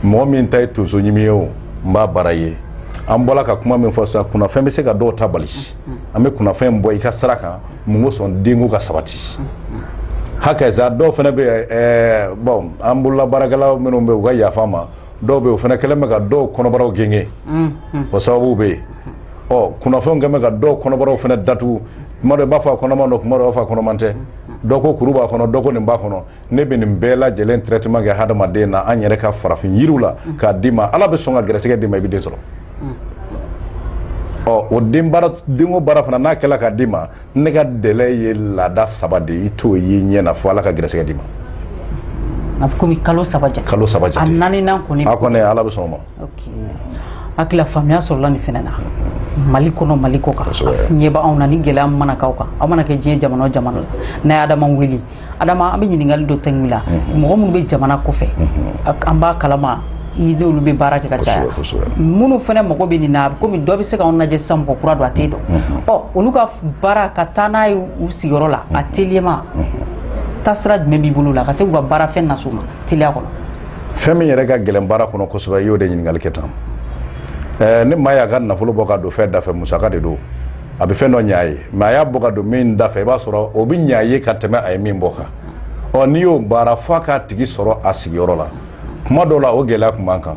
mɔgɔ min ta ye tonso ɲimi ye o n b'a baara ye an bɔra ka kuma min fɔ sisan kunnafɛn bɛ se ka dɔw ta bali an bɛ kunnafɛn in bɔ i ka sira kan mun ko sɔn denko ka sabati hakaza dɔw fana bɛ ɛɛ eh, bɔn an bolola baarakɛla minnu bɛ u ka yafa n ma dɔw bɛ o fana kɛlen bɛ ka dɔw kɔnɔbaraw genge o sababu bɛ yen ɔ kunnafɛnw kɛlen bɛ ka dɔw kɔnɔbaraw fana datugu kuma dɔ i b'a fɔ a kɔnɔman don kuma dɔ i b'a fɔ a kɔnɔman tɛ dɔ ko kuru b'a kɔnɔ dɔ ko nin b'a kɔnɔ ne bɛ nin bɛɛ lajɛlen traitement kɛ hadamaden na an yɛrɛ ka farafin yiriw la mm. k'a d'i ma ala bɛ sɔn ka gɛrɛsɛgɛ d'i ma i bɛ den sɔrɔ mm. ɔ o den baara denko baara fana n'a kɛla ka d'i ma ne ka délai ye laada saba de i t'o ye ɲɛ na fo ala ka gɛrɛsɛgɛ d'i ma a bɛ komi kalo saba jate kalo saba jate a naaninan kɔni a kɔni ala bɛ sɔn o ma hakili la faamuya sɔrɔla nin fana na mali kɔnɔ mali kɔ kan ɲɛ b'anw na ni gɛlɛya mana k'aw kan aw mana kɛ diɲɛ jamana o jamana la n'a ye adama wele adama an bɛ ɲininkali dɔ de k'i la mhm. mɔgɔ minnu bɛ jamana kɔfɛ mhm. an b'a kalama i n'olu bɛ baara kɛ ka caya minnu fana mago bɛ nin na komi dɔ bɛ se k'anw lajɛ sisan mɔgɔ kura don a tɛ dɔn mhm. ɔ olu ka baara ka taa n'a ye u sigiyɔrɔ la a teliyama taasira jumɛn b'i bolo la ka se k'u ka baara fɛn nas'u ma teliya kɔnɔ fɛn min yɛrɛ ka gɛlɛn baara kɔnɔ kosɛbɛ i y'o de ɲininkali kɛ tan ni maa y'a ka nafolo bɔ ka don fɛn da fɛ musaka de don a bɛ fɛn dɔ ɲɛ a ye mɛ a y'a bɔ ka don min da fɛ i b'a sɔrɔ o bɛ ɲɛ a ye ka tɛmɛ a ye min bɔ kan ɔ n'i y'o baara fo a k'a tigi sɔrɔ a sigiyɔrɔ la kuma dɔw la o gɛlɛya tun b'an kan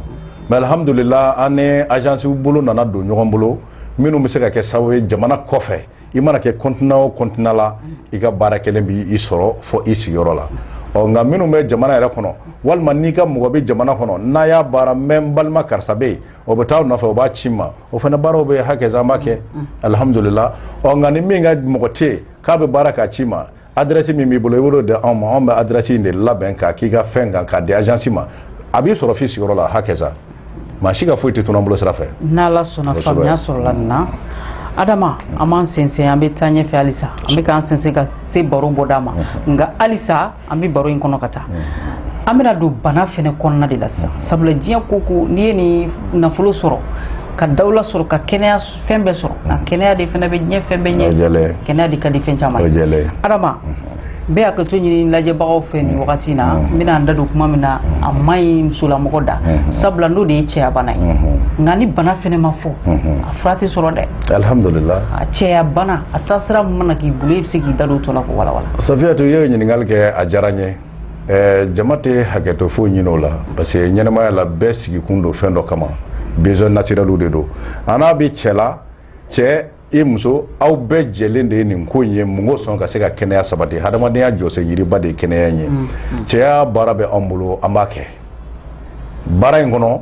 mɛ alihamudulila an ni ajansiw bolo nana don ɲɔgɔn bolo minnu bɛ se ka kɛ sababu ye jamana kɔfɛ i mana kɛ kɔntina o kɔntina la i ka baara kɛlen b'i sɔrɔ fo i sigiyɔrɔ la ɔ nka minnu bɛ jamana yɛrɛ kɔnɔ walima n'i ka mɔgɔ bɛ jamana kɔnɔ n'a y'a baara mɛ n balima karisa bɛ yen o bɛ taa nɔfɛ o b'a c'i ma o fana baaraw bɛɛ hakaza n b'a kɛ alihamudulila ɔ nka ni min ka mɔgɔ tɛ yen k'a bɛ baara k'a ci ma adirɛsi min b'i bolo i b'o di anw ma anw bɛ adirɛsi in de labɛn k'a k'i ka fɛn kan k'a di ajansi ma a b'i sɔrɔ f'i sigiyɔrɔ la hakaza maa si ka foyi tɛ tunun an bolo sira fɛ n'ala sɔnna faamuya sɔrɔla nin na adama an b'an sɛnsɛn an bɛ taa ɲɛfɛ halisa an bɛ k'an sɛnsɛn ka se baro bɔda ma nka halisa an bɛ baro in kɔnɔ ka taa an bɛna don bana fɛnɛ kɔnɔna de la sisan sabula diɲɛ ko ko n'i ye nin nafolo sɔrɔ ka dawula sɔrɔ ka kɛnɛya fɛn bɛɛ sɔrɔ nka kɛnɛya de fɛnɛ bɛ diɲɛ fɛn bɛɛ ɲɛ kɛnɛya de ka di fɛn caman ye adama n bɛ hakɛto ɲini lajɛbagaw fɛ nin wagati na n bɛna n da don kuma min na a man ɲi musolamɔgɔ da sabula n'o de ye cɛya bana ye nka ni bana fɛnɛ ma fɔ a fura tɛ sɔrɔ dɛ alihamudulila a cɛya bana a taasira mana k'i bolo e bɛ se k'i da don o tɔ la k'o walawala safiyatu i ye ɲininkali kɛ a diyara n ye ɛɛ jama tɛ hakɛto foyi ɲini o la parce que ɲɛnamaya la bɛɛ sigikun don fɛn dɔ kama besoin naturel de don a n'a bɛ cɛ la cɛ ni muso aw bɛɛ jɛlen de ye nin ko in ye mun kosɔn ka se ka kɛnɛya sabati hadamadenya jɔsen yiriba de ye kɛnɛya in ye cɛya baara bɛ anw bolo an b'a kɛ baara in kɔnɔ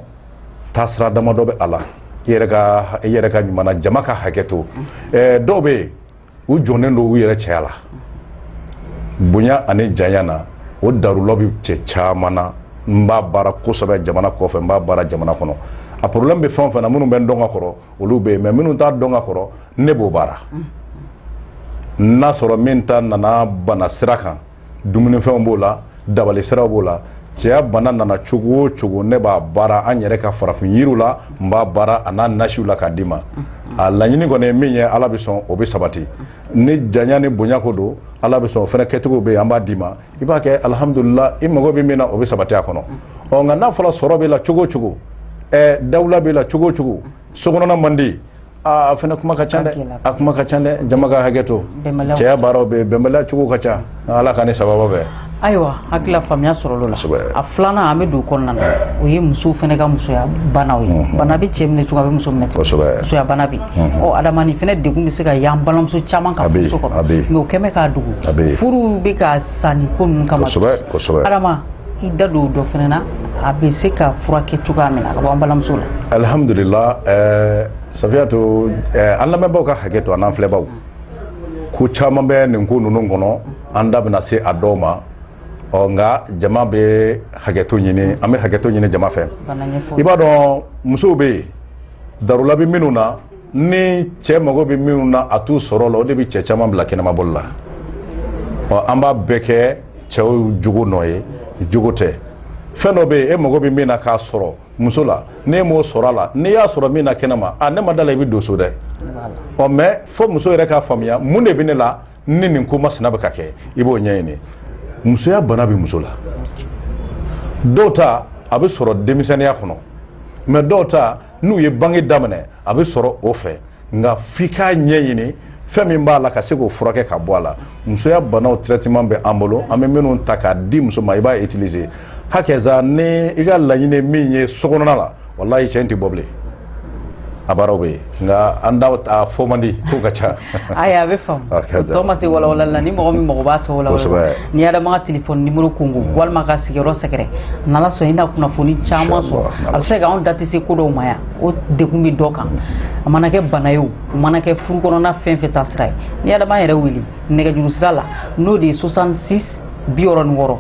taasira damadɔ bɛ a la i yɛrɛ ka i yɛrɛ ka ɲuman jama ka hakɛ to ɛɛ dɔw bɛ yen u jɔnnen don u yɛrɛ cɛya la bonya ani janya na o darulɔ bɛ cɛ caman na n b'a baara kosɛbɛ jamana kɔfɛ n b'a baara jamana kɔnɔ a problème bɛ fɛn o fɛn na minnu bɛ n dɔn ka kɔrɔ olu bɛ yen mais minnu t'a dɔn ka kɔrɔ ne b'o baara n'a sɔrɔ min ta nana bana sira kan dumunifɛnw b'o la dabali siraw b'o la cɛya bana nana cogo o cogo ne b'a baara an yɛrɛ ka farafin yiriw la n b'a baara a n'a nasiw la k'a d'i ma a laɲini kɔni ye min ye ala bɛ sɔn o bɛ sabati ni janya ni bonya ko don ala bɛ sɔn o fana kɛcogo bɛ yen an b'a d'i ma i b'a kɛ alihamudulila i mago bɛ min na o bɛ sabati a kɔnɔ ɔ nka n'a fɔra sɔrɔ b'i la cogo o cogo ɛɛ dawula b'i la cogo o cogo sokɔnɔna man di a fana kuma ka ca dɛ a kuma ka ca dɛ jama ka hakɛ to cɛya baaraw bɛ bɛnbaliya cogo ka ca ala ka ne sababa bɛɛ ayiwa hakilila faamuya sɔrɔl'o la a filanan an bɛ don kɔnɔna na o ye musow fana ka musoya banaw ye bana bɛ cɛ minɛ cogo a bɛ muso minɛ musoya bana bɛ ɔ adama nin fana degun bɛ se ka y'an balimamuso caman ka muso kɔnɔ mɛ o kɛmɛ k'a dogo furu bɛ ka sa nin ko ninnu kama adama i da don dɔ fana na a bɛ se ka furakɛ cogoya min na ka bɔ an balimamuso la alhamdulila eh, safiyatu eh, an lamɛnbaaw ka hakɛ to an n'an filɛbaaw ko caman bɛ nin ko ninnu kɔnɔ an da bɛna se a dɔw ma ɔ nka jama bɛ hakɛto ɲini an bɛ hakɛto ɲini jama fɛ i b'a dɔn musow bɛ yen darula bɛ minnu na ni cɛ mago bɛ minnu na a t'u sɔrɔ la o de bɛ cɛ caman bila kɛnɛmabɔli la ɔ an b'a bɛɛ kɛ cɛw jogo nɔ ye jogo tɛ fɛn dɔ bɛ yen e mago bɛ min na k'a sɔrɔ muso la n'e m'o sɔrɔ a la n'i y'a sɔrɔ min na kɛnɛma a ne ma da la i bɛ don so dɛ ɔ mais fo muso yɛrɛ k'a faamuya mun de bɛ ne la ni nin ko masina bɛ ka kɛ i b'o ɲɛɲini musoya bana bɛ muso la dɔw ta a bɛ sɔrɔ denmisɛnninya kɔnɔ mais dɔw ta n'u ye bange daminɛ a bɛ sɔrɔ o fɛ nka f'i k'a ɲɛɲini fɛn min b'a la ka se k'o furakɛ ka bɔ a la musoya banaw traitement bɛ an bolo an bɛ minnu ta k'a di muso ma i b'a utiliser hakɛza ni i ka laɲini min ye sokɔnɔna la walayi cɛ in tɛ bɔ bilen a baaraw bɛ yen nka an da a fɔ man di ko ka ca ayi a bɛ faamu ah, tɔ ma se walawalali la ni mɔgɔ min mago b'a tɔw la n'i y'a dɔn ma ka telefɔni nimoro kunko mm. walima ka sigiyɔrɔ sɛgɛrɛ n'ala sɔn i na kunnafoni caman sɔrɔ a bɛ se k'anw da tɛ se ko dɔw ma yan o degun bɛ dɔ kan a mana kɛ bana ye o a mana kɛ furu kɔnɔna fɛn fɛn ta sira ye n'i y'a dɔn b'an yɛrɛ wele nɛgɛjuru sira la n'o de ye 66 bi wɔɔrɔ ni wɔɔrɔ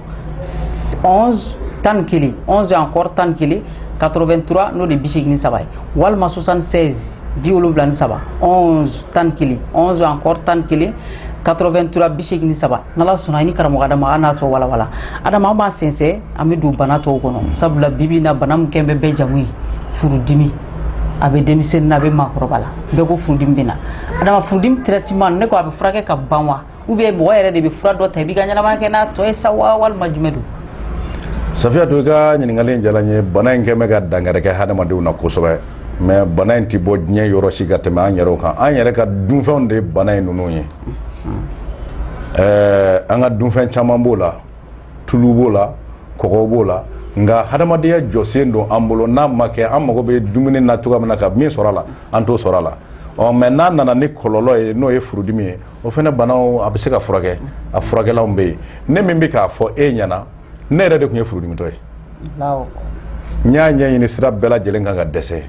11 tan ni kelen 11 encore tan ni kelen 83 n'o de ye bi seegin ni saba ye walima 76 bi wolonwula ni saba onze tan ni kelen onze encore tan ni kelen 83 bi seegin ni saba n'ala sɔnna i ni karamɔgɔ adama an n'a tɔ walawala adama an b'a sɛnsɛn an bɛ don bana tɔw kɔnɔ sabula bibi na bana min kɛn bɛ bɛɛ jamu ye furudimi a bɛ denmisɛnnin na a bɛ maakɔrɔba la bɛɛ ko furudimi bɛ na adama furudimi traitement ne ko a bɛ furakɛ ka ban wa u bɛ mɔgɔ yɛrɛ de bɛ fura dɔ ta i b'i ka ɲɛnamaya kɛ n'a tɔ ye sa wa walima jumɛn don safiyatu i ka ɲininkali in diyala n ye bana in kɛ bɛ ka dankari kɛ hadamadenw na kosɛbɛ mɛ bana in tɛ bɔ diɲɛ yɔrɔ si ka tɛmɛ an yɛrɛw kan an yɛrɛ ka dunfɛnw de ye bana in ninnu ye ɛɛ an ka dunfɛn caman b'o la tulu b'o la kɔgɔ b'o la nka hadamadenya jɔsen don an bolo n'a ma kɛ an mago bɛ dumuni na cogoya min na ka min sɔrɔ a la an t'o sɔrɔ a la ɔ mɛ n'a nana ni kɔlɔlɔ ye n'o ye furudimi ye o fana banaw a bɛ se ka furakɛ a furakɛlanw bɛ yen ne min bɛ k'a fɔ e ɲɛna ne yɛrɛ de tun ye furudimitɔ ye n y'a ɲɛɲini sira bɛɛ lajɛlen kan ka dɛsɛ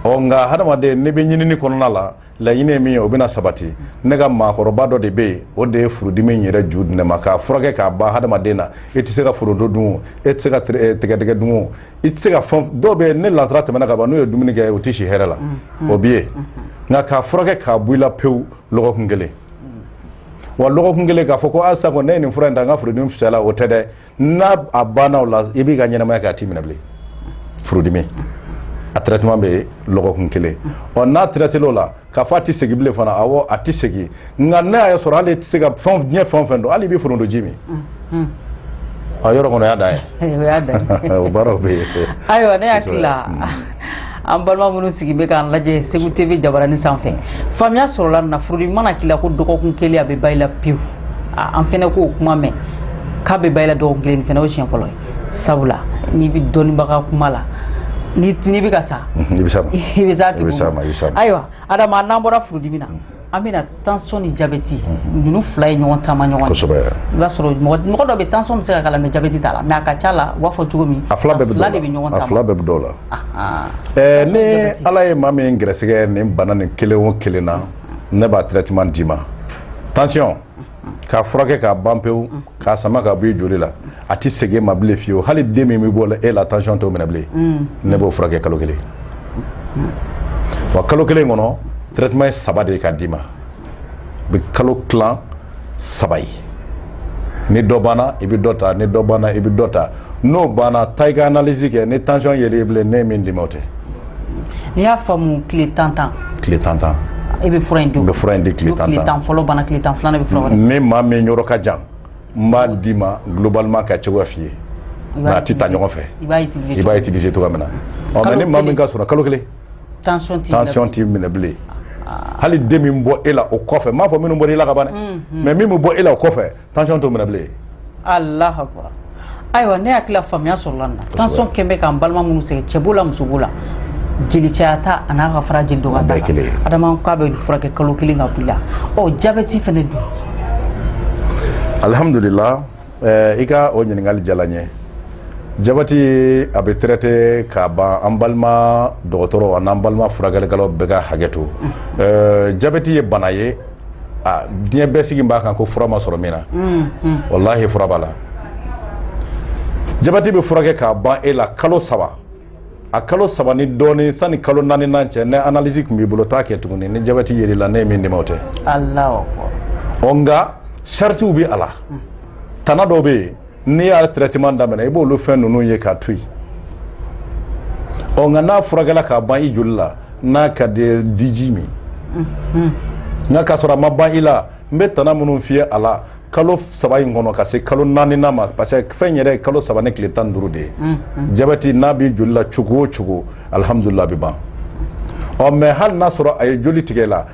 ɔ nka hadamaden n'i bɛ ɲinini kɔnɔna la laɲini ye min ye o bɛna sabati ne ka maakɔrɔba dɔ de bɛ yen o de ye furudimi in yɛrɛ ju di ne ma k'a furakɛ k'a ban hadamaden na e tɛ se ka foronto dun o e tɛ se ka tigɛdɛgɛ dun o i tɛ se ka fɛn dɔw bɛ ni lansara tɛmɛna ka ban n'u ye dumuni kɛ u tɛ si hɛrɛ la o bɛ yen nka k'a furakɛ k'a bɔ i la pewu lɔgɔkun kelen wa lɔgɔkun kelen k'a fɔ ko a sako ne ye nin fura in ta n ka furudimi fisayala o tɛ dɛ n'a a banna o la i b'i ka ɲɛnamaya kɛ a t'i minɛ bilen furudimi a traitement bɛ lɔgɔkun kelen ɔ n'a traitera o la k'a fɔ a tɛ segin bilen fana awɔ a tɛ segin nka n'a y'a sɔrɔ hali e tɛ se ka fɛn diɲɛ fɛn o fɛn dun hali i bɛ foronto ji min a yɔrɔ kɔnɔ o y'a dan ye o y'a dan ye o baaraw bɛ yen ayiwa ne hakili la an balima minnu sigi bɛ k'an lajɛ segu tv jabarani sanfɛ faamuya sɔrɔla nin na furudimi mana k'i la ko dɔgɔkun kelen a bɛ ban i la pewu an fana k'o kuma mɛn k'a bɛ ban i la dɔgɔkun kelen nin fana o siɲɛ fɔlɔ ye sabula n'i bɛ dɔnnibaga kuma la n'i bɛ ka taa mhm, i bɛ s'a ma i bɛ s'a tigi ma ayiwa adama n'an bɔra furudimi na mhm. an bɛ na tension ni jabɛti mhm. ninnu fila ye ɲɔgɔn taamaɲɔgɔn kosɛbɛ i b'a sɔrɔ mɔgɔ dɔ bɛ tension bɛ se ka k'a la mɛ jabɛti t'a la mɛ a ka ca la u b'a fɔ cogo min a fila bɛɛ bɛ ɲɔgɔn taama a fila bɛɛ bɛ dɔw la ɛɛ ni ala ye maa min gɛrɛsɛgɛ nin bana nin kelen o kelen na ne b'a traitement d'i ma tension k'a furakɛ k'a ban pewu k'a sama ka bɔ i joli la a tɛ segin i ma bilen fiyewu hali den min bɛ bɔ e la tension t'o minɛ bilen ne b'o furakɛ kalo kelen wa kalo kelen kɔnɔ traitement ye saba de ye k'a d'i ma u bɛ kalo tilan saba ye ni dɔ banna i bɛ dɔ ta ni dɔ banna i bɛ dɔ ta n'o banna taa i ka analyse kɛ ni tension yer'i la bilen ne ye min d'i ma o tɛ. n'i y'a faamu tile tan tan. tile tan tan. i bɛ fura in di o ma. n bɛ fura in di tile tan tan. tile tan fɔlɔ banna tile tan filanan bɛ fura wɛrɛ. ni maa min yɔrɔ ka jan n b'a d'i ma globalement k'a cogoya f'i ye. nka a tɛ ta ɲɔgɔn fɛ. i b'a utiliser i b'a utiliser cogoya min na. ɔ mais ni maa min ka surun kalo kelen. tension t'i minɛ bilen. tension t'i minɛ bilen. hali den min bɔ e la o kɔfɛ n m'a fɔ minnu bɔra i la ka ban dɛ mais min bɛ bɔ e la o kɔfɛ tension t'o minɛ bilen alahu akubar ayiwa ne hakili la faamuya sɔrɔla nin na tension kɛlen bɛ k'an balima minnu sɛgɛn cɛ b'o la muso b'o la jeli caya ta ani ka fara jeli dɔgɔya ta kan adama k'a b'a furakɛ kalo kelen k'a b'i la ɔ jabɛti fana dun alihamudulila eh, i ka o ɲininkali diyala n ye jabɛti a bɛ traite ka ban an balima dɔgɔtɔrɔ an'an balima furakɛlikɛlaw bɛɛ ka hakɛ to mm. eh, jabɛti ye bana ye aa diɲɛ bɛɛ sigi b'a kan ko fura ma sɔrɔ min na walahi fura b'a la jabɛti bɛ furakɛ k'a ban e la kalo saba a kalo saba ni dɔɔnin sani kalo naaninan cɛ ni analyse tun b'i bolo taa a kɛ tuguni ni jabɛti yer'i la ne ye min d'i ma o tɛ ɔ nka saritiw bɛ a la tana dɔw bɛ yen n'i y'a traitement daminɛ i b'olu fɛn ninnu ye k'a to yen ɔ nka n'a furakɛla k'a ban i joli la n'a ka d'i ye diji min nka k'a sɔrɔ a ma ban i la n bɛ tana minnu f'i ye a la kalo saba in kɔnɔ ka se kalo naaninan ma parce que fɛn yɛrɛ ye kalo saba ni tile tan ni duuru de ye jabɛti n'a b'i joli la cogo o cogo alihamudulila a bɛ ban ɔ mais hali n'a sɔrɔ a ye joli tigɛ i la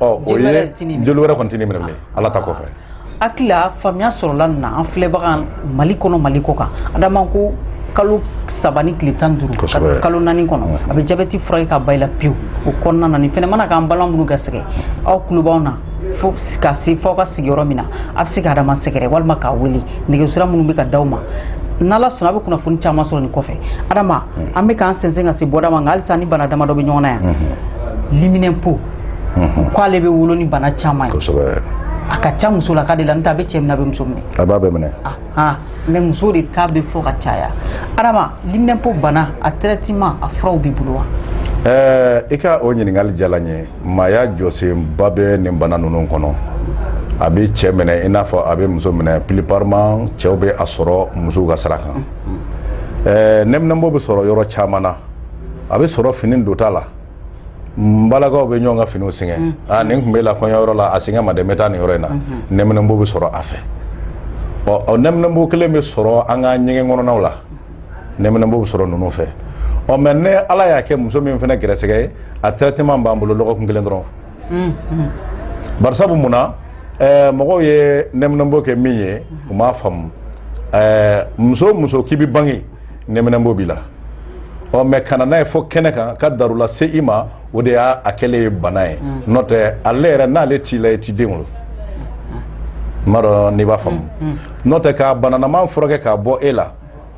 ɔ o ye joli wɛrɛ kɔni tɛ ne minɛ bilen ala ta kɔfɛ hakili la faamuya sɔrɔla nin na an filɛbaga mali kɔnɔ mali kɔ kan adama ko kalo saba ni tile tan ni duuru kalo naani kɔnɔ mm-hmm. a bɛ jabɛti furakɛ ka ban i la pewu o kɔnɔna na nin fɛnɛ mana k'an balima minnu garisɛgɛ aw tulo b'an na fo ka se fo aw ka sigiyɔrɔ min na a bɛ se ka adama sɛgɛrɛ walima k'a wele nɛgɛsira minnu bɛ ka d'aw ma n'ala sɔnna a bɛ kunnafoni caman sɔrɔ nin kɔfɛ adama mm. an bɛ k'an sɛnsɛn ka se bɔda ma nka halisa ni bana damadɔ bɛ ɲɔgɔn na yan mm-hmm. liminɛnpo k'ale bɛ wolo ni bana caman ye kosɛbɛ a ka ca musolaka de la n'o tɛ a bɛ cɛ minɛ a bɛ muso minɛ a b'a bɛɛ minɛ ahan mais muso de ta bɛ fɔ ka caya adama liminɛnpo bana a traitement a furaw b'i bolo wa ɛɛ i ka o ɲininkali diyala n ye maaya jɔsenba bɛ nin bana ninnu kɔnɔ a bɛ cɛ minɛ i n'a fɔ a bɛ muso minɛ plupart même cɛw bɛ a sɔrɔ musow ka sira kan ɛɛ nɛminɛnpo bɛ sɔrɔ yɔrɔ caman na a bɛ sɔrɔ fini donta la n balakaw bɛ ɲɔgɔn ka finiw singa mm. aa ah, nin tun b'i la kɔɲɔyɔrɔ la a singa n ma dɛ n bɛ taa nin yɔrɔ in na mm-hmm. nɛminɛnbo bɛ sɔrɔ a fɛ ɔ ɔ nɛminɛnbo kelen bɛ sɔrɔ an ka ɲɛgɛn kɔnɔnaw la nɛminɛnbo bɛ sɔrɔ ninnu fɛ ɔ mais ni ala y'a kɛ muso min fana garisɛgɛ ye a traitement b'an bolo lɔgɔkun kelen dɔrɔn mm-hmm. barisabu mun na ɛɛ eh, mɔgɔw ye nɛminɛnbo kɛ min ye u m'a faamu ɛɛ eh, muso o muso k'i bɛ bange nɛminɛnbo b'i la ɔ mais ka na n'a ye fo kɛnɛ kan ka darula se i ma o de y'a a kɛlen ye bana ye mm. n'o tɛ ale yɛrɛ n'ale t'i la i t'i den wolo n m'a dɔn n'i b'a faamu mm, mm. n'o tɛ ka bananaman furakɛ k'a bɔ e la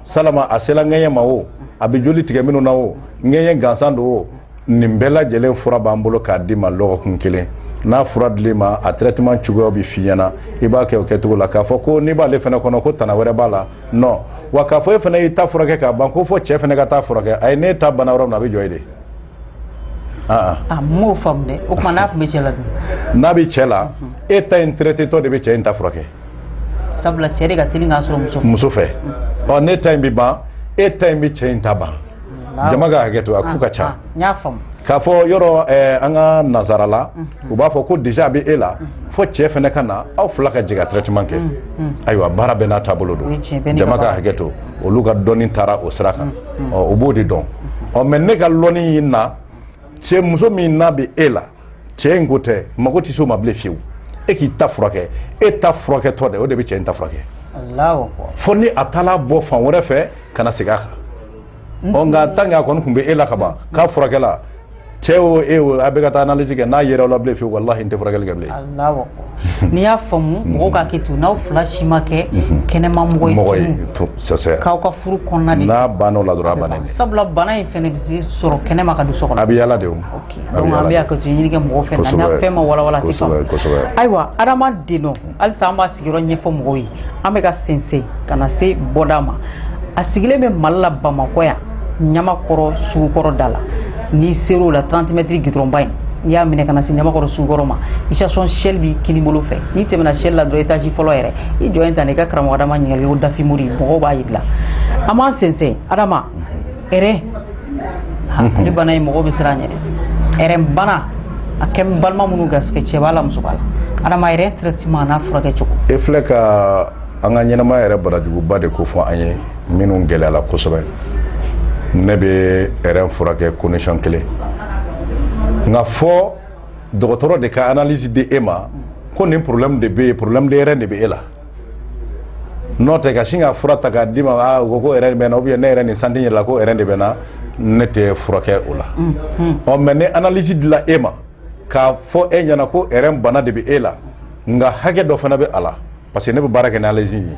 salama a sela ŋɛɲɛ ma o a bɛ joli tigɛ minnu na o ŋɛɲɛ gansan don o nin bɛɛ lajɛlen fura b'an bolo k'a d'i ma lɔgɔkun kelen n'a fura dil'i ma a traitement cogoyaw bɛ f'i ɲɛna i b'a kɛ o kɛcogo la k'a fɔ ko n'i b'ale fana kɔnɔ ko tana wɛrɛ b'a la non wa k'a fɔ e fana y'i ta furakɛ k'a ban ko fo cɛ fana k'a ta furakɛ ayi n'e ta banna yɔrɔ min na a bɛ jɔ yen de ah, ah. a m'o faamu dɛ o tuma n'a tun bɛ cɛ la dun n'a bɛ cɛ la mhm. e ta in traitétɔ de bɛ cɛ in ta furakɛ sabula cɛ de ka teli k'a sɔrɔ muso fɛ muso fɛ ɔ n'e ta in bɛ ban e ta in bɛ cɛ in ta ban jama ka hakɛ to a k'u ka ca k'a fɔ yɔrɔ eh, an ka nazara la mhm. u b'a fɔ ko déjà a bɛ e la mhm. fo cɛ fana ka na aw fila ka jɛ ka traitement kɛ mhm. ayiwa baara bɛɛ n'a taabolo don jama ka hakɛ to olu ka dɔnni taara o sira kan ɔ u b'o de dɔn ɔ mais ne ka lɔnni in na cɛ muso min n'a bɛ e la cɛ in ko tɛ mago tɛ se o ma bilen fiyewu e k'i ta furakɛ e ta furakɛtɔ de o de bɛ cɛ in ta furakɛ fo ni a taala bɔ fan wɛrɛ fɛ ka na segin a kan mhm. ɔ nka tant que a kɔni tun bɛ e la ka ban k'a furakɛla cɛ o e o a bɛɛ ka taa analyse kɛ n'a yera aw la bilen fiyewu walahi n tɛ furakɛli kɛ bilen n'i y'a faamu mhm. mɔgɔw k'a kɛ ten n'aw fila si ma kɛ mhm. kɛnɛma mɔgɔ ye mɔgɔ ye c'est c'est que aw ka furu kɔnɔna de n'a banna o la dɔrɔn a bannen sabula bana in fana bɛ se sɔrɔ kɛnɛma ka don so kɔnɔ a bɛ yaala de o donc an bɛ hakɛto ɲini kɛ mɔgɔw fɛ n'an ka fɛn ma walawala a tɛ faamu ayiwa Adama Deno hmm. halisa an b'a sigiyɔrɔ ɲɛfɔ mɔgɔw ye an bɛ ka sɛnsɛn ka na se bɔda ma a sigilen bɛ Mali la Bamakɔ yan Ɲamakɔrɔ sugukɔrɔ da la n'i ser'o la 30 mètres gudɔrɔnba in n'i y'a minɛ ka na se Ɲamakɔrɔ sugukɔrɔ ma station Shell b'i kininbolo fɛ n'i tɛmɛna Shell la dɔrɔn étage fɔlɔ yɛrɛ i jɔ yen tan i ka karamɔgɔ Adama ɲininkali ko Dafi Mori mɔgɔw b'a jira i la an b'an sɛnsɛn Adama rein ale bana ye mɔgɔ bɛ siran ɲɛ dɛ rein bana a kɛ balima minnu garisɛgɛ cɛ b'a la muso b'a la adama rein traitement n'a furakɛ cogo e filɛ ka an ka ɲɛnamaya yɛrɛ barajuguba de kofɔ an ye minnu gɛlɛyala kosɛbɛ ne bɛ rein furakɛ condition kelen nka fo dɔgɔtɔrɔ de ka analyse di e ma ko nin problème de bɛ yen problème de rein de bɛ e la n'o tɛ ka sin ka fura ta k'a d'i ma aa u ko ko ɛrɛn bɛ n na ubiyɛn ne yɛrɛ n y'a santi n yɛrɛ la ko ɛrɛn de bɛ n na ne t'i furakɛ o la ɔ mɛ ni analisi dila e ma k'a fɔ e ɲɛna ko ɛrɛn bana de bɛ e la nka hakɛ dɔ fana bɛ a la parce que ne bɛ baara kɛ ni analisi ye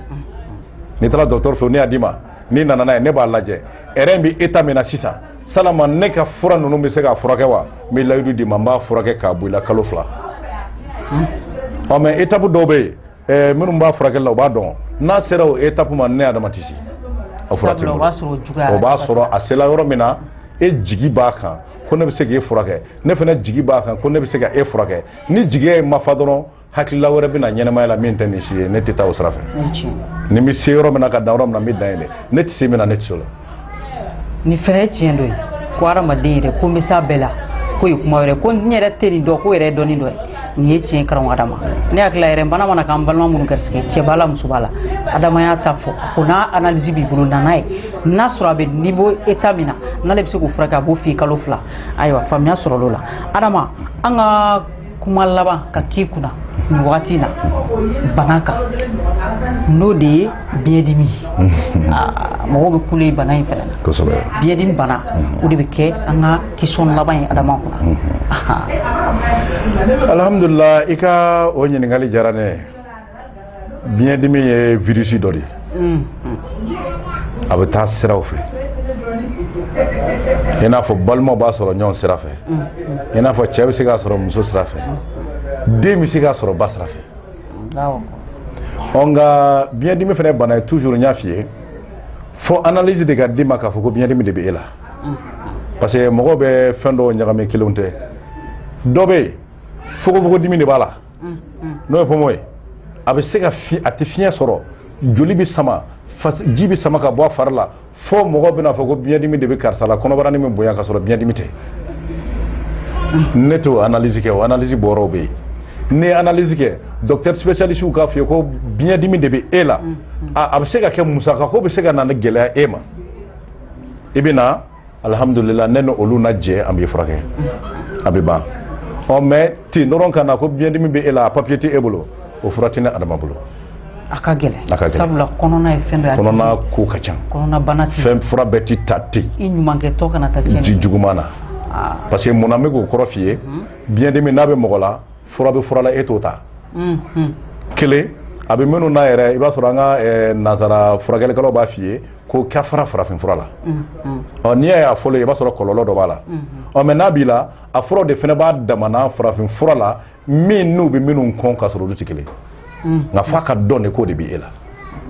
n'i taara dɔgɔtɔrɔ fɛ n'a y'a d'i ma n'i nana n'a ye ne b'a lajɛ ɛrɛn bɛ eta min na sisan yalama ne ka fura ninnu bɛ se k'a furakɛ wa n bɛ layidu d'i ma n b'a furakɛ k'a bɔ i la kalo fila ɔ mɛ etapu dɔw bɛ yen ɛɛ minnu b'a furakɛli la u b'a dɔn n'a sera o etapu ma ne adama tɛ se a fura tɛ n bolo o b'a sɔrɔ a sela yɔrɔ min na e jigi b'a kan ko ne bɛ se k'e furakɛ ne fana jigi b'a kan ko ne bɛ se ka e furakɛ ni jigiya in ma fa dɔrɔn hakilila wɛrɛ bɛna ɲɛnamaya la min tɛ nin si ye ne tɛ taa o sira fɛ ne bɛ se yɔrɔ min na ka dan yɔrɔ min na n bɛ dan yen de ne tɛ se min na ne tɛ se o la nin fɛnɛ ye tiɲɛ dɔ ye ko hadamaden yɛrɛ ko n bɛ s'a bɛɛ la k'o ye kuma wɛrɛ ko n yɛrɛ tɛ nin dɔn k'o yɛrɛ ye dɔnni dɔ ye nin ye tiɲɛ karamɔgɔ adama ne hakili la yɛrɛ bana mana k'an balima minnu garisigɛ cɛ b'a la muso b'a la adama y'a ta fɔ ko n'a analyse b'i bolo na n'a ye n'a sɔrɔ a bɛ niveau état min na n'ale bɛ se k'o furakɛ a b'o f'i ye kalo fila ayiwa faamuya sɔrɔla o la adama an ka kuma laban ka k'i kunna nin wagati in na bana kan n'o de ye biyɛndimi Aa, mɔgɔw bɛ kule bana in fɛnɛ na kosɛbɛ biyɛndimi bana o de bɛ kɛ an ka question laban ye adama kunna Ahan. alhamdulillah i ka o ɲininkali diyara ne ye biɲɛdimi ye virisi dɔ de ye mm. a bɛ taa siraw fɛ i n'a fɔ balimaw b'a sɔrɔ ɲɔgɔn sira fɛ mm. i n'a fɔ cɛ bɛ se k'a sɔrɔ muso sira fɛ mm. den bɛ se k'a sɔrɔ ba sira fɛ ɔ nka biɲɛdimi fana bana ye toujours n y'a f'i ye fo analyse de ka d'i ma k'a fɔ ko biɲɛdimi de bɛ e la parce que mɔgɔw bɛ fɛn dɔw ɲagami kelen tɛ dɔ bɛ yen fogofogodimi de b'a la n'o ye poumon ye a bɛ se ka a tɛ fiɲɛ sɔrɔ joli bɛ sama ji bɛ sama ka bɔ a fari la fo mɔgɔ bɛna fɔ ko biɲɛdimi de bɛ karisa la kɔnɔbarani bɛ bonya ka sɔrɔ biɲɛdimi tɛ ne t'o analyse kɛ o analyse bɔyɔrɔw bɛ yen n'e ye analyse kɛ docteur spécialiste k'a f'i ye ko biɲɛdimi de bɛ e la a bɛ se ka kɛ musaka ko bɛ se ka na ni gɛlɛya e ma i bɛ na alihamudulila ne ni olu na jɛ an b'i furakɛ a bɛ ban ɔ mɛ ten dɔrɔn ka na ko biyɛndimi bɛ e la a papiye tɛ e bolo o fura tɛ ne adama bolo a ka gɛlɛn a ka gɛlɛn sabula kɔnɔna ye fɛn dɔ ye a tɛ kɔnɔna ko ka ca kɔnɔnabana tɛ fɛn fura bɛɛ tɛ ta ten i ɲumankɛtɔ kana taa tiɲɛni ji kɛ. juguman na Aa, parce que mun na n bɛ k'o kɔrɔ f'i ye biyɛndimi n'a bɛ mɔgɔ la fura bɛ fura la e t'o ta un, un. kelen a bɛ minnu na yɛrɛ i b'a sɔrɔ an ka eh, nansara furakɛlikɛlaw b'a f'i ye ko ka fara farafin fura la ɔ n'i y'a fɔlɔ i b'a sɔrɔ kɔlɔlɔ dɔ b'a la ɔ mais n'a b'i la a furaw de fana b'a damana farafin fura la min n'u bɛ minnu kɔn ka sɔrɔ olu tɛ kelen nka f'a ka dɔn de k'o de bɛ e la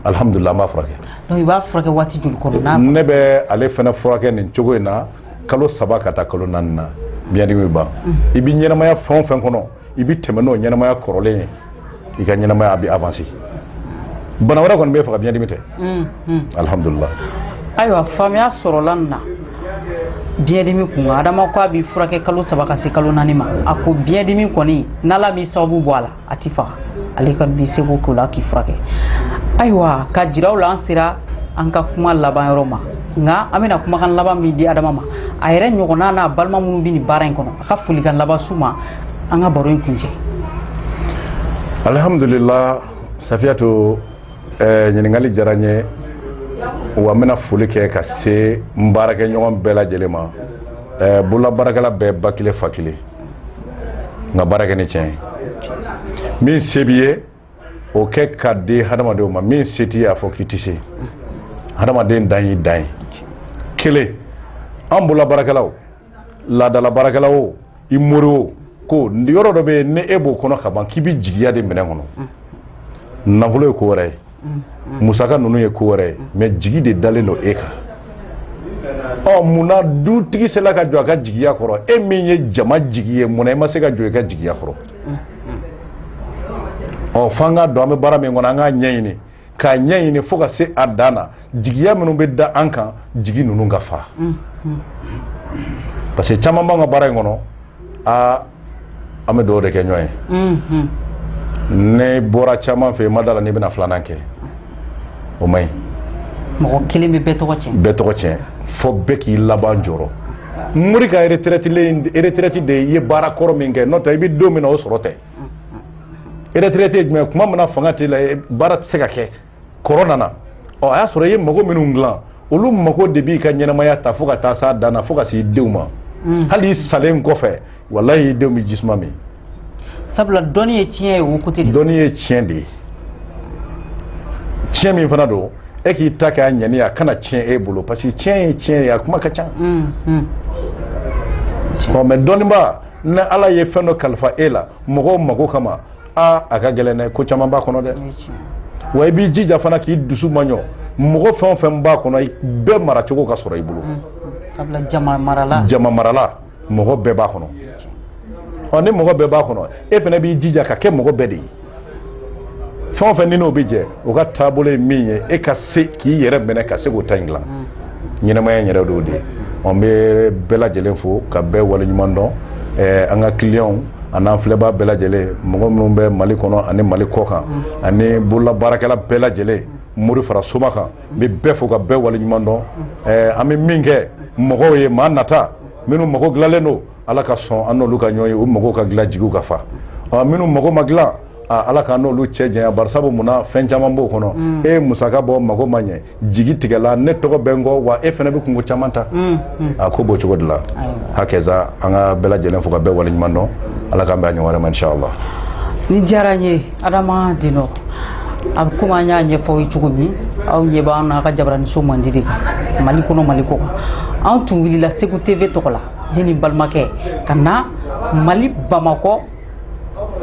alihamudulila an b'a furakɛ donc i b'a furakɛ waati joli kɔnɔ n'a ne bɛ ale fana furakɛ nin cogo in na kalo saba ka taa kalo naani na biɲɛdimi bɛ ban i bɛ ɲɛnamaya fɛn o fɛn kɔnɔ i bɛ tɛmɛ n'o ɲɛnamaya kɔrɔlen ye i ka ɲɛnamaya a bɛ avancer bana wɛrɛ kɔni bɛ faga biɲɛdimi tɛ alihamudulila ayiwa faamuya sɔrɔla nin na biɲɛdimi kun kan adama ko a b'i furakɛ kalo saba ka se kalo naani ma a ko biɲɛdimi kɔni n'ala m'i sababu bɔ a la a t'i faga ale ka b'i seko k'o la k'i furakɛ ayiwa ka jiraw la an sera an ka kuma laban yɔrɔ ma nka an bɛna kumakan laban min di adama ma a yɛrɛ ɲɔgɔnna n'a balima minnu bɛ nin baara in kɔnɔ a ka folikan laban s'u ma an ka baro in kuncɛ alihamudulila safiyatu eh, ɲininkali diyara n ye wa n bɛna foli kɛ ka se n baarakɛɲɔgɔn bɛɛ lajɛlen ma eh, bololabaarakɛla bɛɛ ba kelen fa kelen an ka baara kɛ ni tiɲɛ ye min se b'i ye o kɛ ka di hadamadenw ma min se t'i ye a fɔ k'i tɛ se hadamaden dan y'i dan ye kelen an bololabaarakɛlaw laadala baarakɛla o i mori o ko yɔrɔ dɔ bɛ yen ni e b'o kɔnɔ ka ban k'i bɛ jigiya de minɛn kɔnɔ nafolo ye ko wɛrɛ ye musaka ninnu ye ko wɛrɛ ye mais jigi de dalen don e kan ɔ mun na dutigi sela ka jɔ a ka jigiya kɔrɔ e min ye jama jigi ye mun na i ma se ka jɔ i ka jigiya kɔrɔ ɔ f'an k'a dɔn an bɛ baara min kɔnɔ an k'a ɲɛɲini k'a ɲɛɲini fo ka se a dan na jigiya minnu bɛ da an kan jigi ninnu ka fa parce que caman b'an ka baara in kɔnɔ aa an bɛ dɔw de kɛ ɲɔgɔn ye ne bɔra caman fɛ yen n ma da a la n'i bɛna filanan kɛ o man ɲi mɔgɔ kelen bɛ bɛɛ tɔgɔ tiɲɛ bɛɛ tɔgɔ tiɲɛ fo bɛɛ k'i laban jɔrɔ mori ka retraite de ye i ye baara kɔrɔ min kɛ n'o tɛ i bɛ don min na o sɔrɔ tɛ retraite ye mais kuma min na fanga t'e la baara tɛ se ka kɛ kɔrɔ nana ɔ a y'a sɔrɔ i ye mago minnu dilan olu mago de b'i ka ɲɛnamaya ta fo ka taa s'a dan na fo ka s'i denw ma mm. hali i salen kɔfɛ walayi i denw bɛ jisuma min sabula dɔnni ye tiɲɛ ye o kote de dɔnni ye tiɲɛ de ye tiɲɛ min fana don e k'i ta kɛ a ŋaniya kana tiɲɛ e bolo parce que tiɲɛ ye tiɲɛ ye a kuma ka ca mm, mm. ɔ mais dɔnniba ni ala ye fɛn dɔ kalifa e la mɔgɔw mago kama aa a ka gɛlɛn dɛ ko caman b'a kɔnɔ dɛ wa i b'i jija fana k'i dusu maɲɔ mɔgɔ fɛn o fɛn b'a kɔnɔ bɛɛ maracogo ka sɔrɔ i bolo mm. jama marala mɔgɔ bɛɛ b'a kɔnɔ ɔ ni mɔgɔ bɛɛ b'a kɔnɔ e fana b'i jija ka kɛ mɔgɔ bɛɛ de ye fɛn o fɛn n'i n'o bɛ jɛ o ka taabolo ye min ye e ka se k'i yɛrɛ minɛ ka se k'o ta in dilan mm. ɲɛnamaya in yɛrɛ de y'o de ye an bɛ bɛɛ lajɛlen fo ka bɛɛ waleɲuman dɔn eh, an ka kiliyanw an'an filɛbaa bɛɛ lajɛlen mɔgɔ minnu bɛ mali kɔnɔ ani mali kɔ kan mm. ani bololabaarakɛla bɛɛ lajɛlen mori fara soma kan n bɛ bɛɛ fo ka bɛɛ waleɲuman dɔn mm. eh, an bɛ min kɛ mɔgɔw ye maa nata minnu mago dilanlen don ala ka sɔn an n'olu ka ɲɔgɔn ye u mago ka dilan jigiw ka fa minnu mago ma dilan ala k'an n'olu cɛ janya bari sabu mun na fɛn caman b'o kɔnɔ mm. e ye musaka bɔ mago ma ɲɛ jigi tigɛla ne tɔgɔ bɛ n kɔ wa e fana bɛ kunko caman ta mm, mm. a ko b'o cogo de la hakɛza an ka bɛɛ lajɛlen fo ka bɛɛ waleɲuman dɔn ala k'an bɛn a ɲɔgɔn wɛrɛ ma inshallah nin diyara n ye adama denɔ a bɛ komi an y'a ɲɛfɔ aw ye cogo min aw ɲɛ b'an na a ka jabaraniso mandi de kan mali kɔnɔ mali kɔ kan anw tun wulila segu tv tɔgɔ la ne ni balimakɛ ka na mali bamakɔ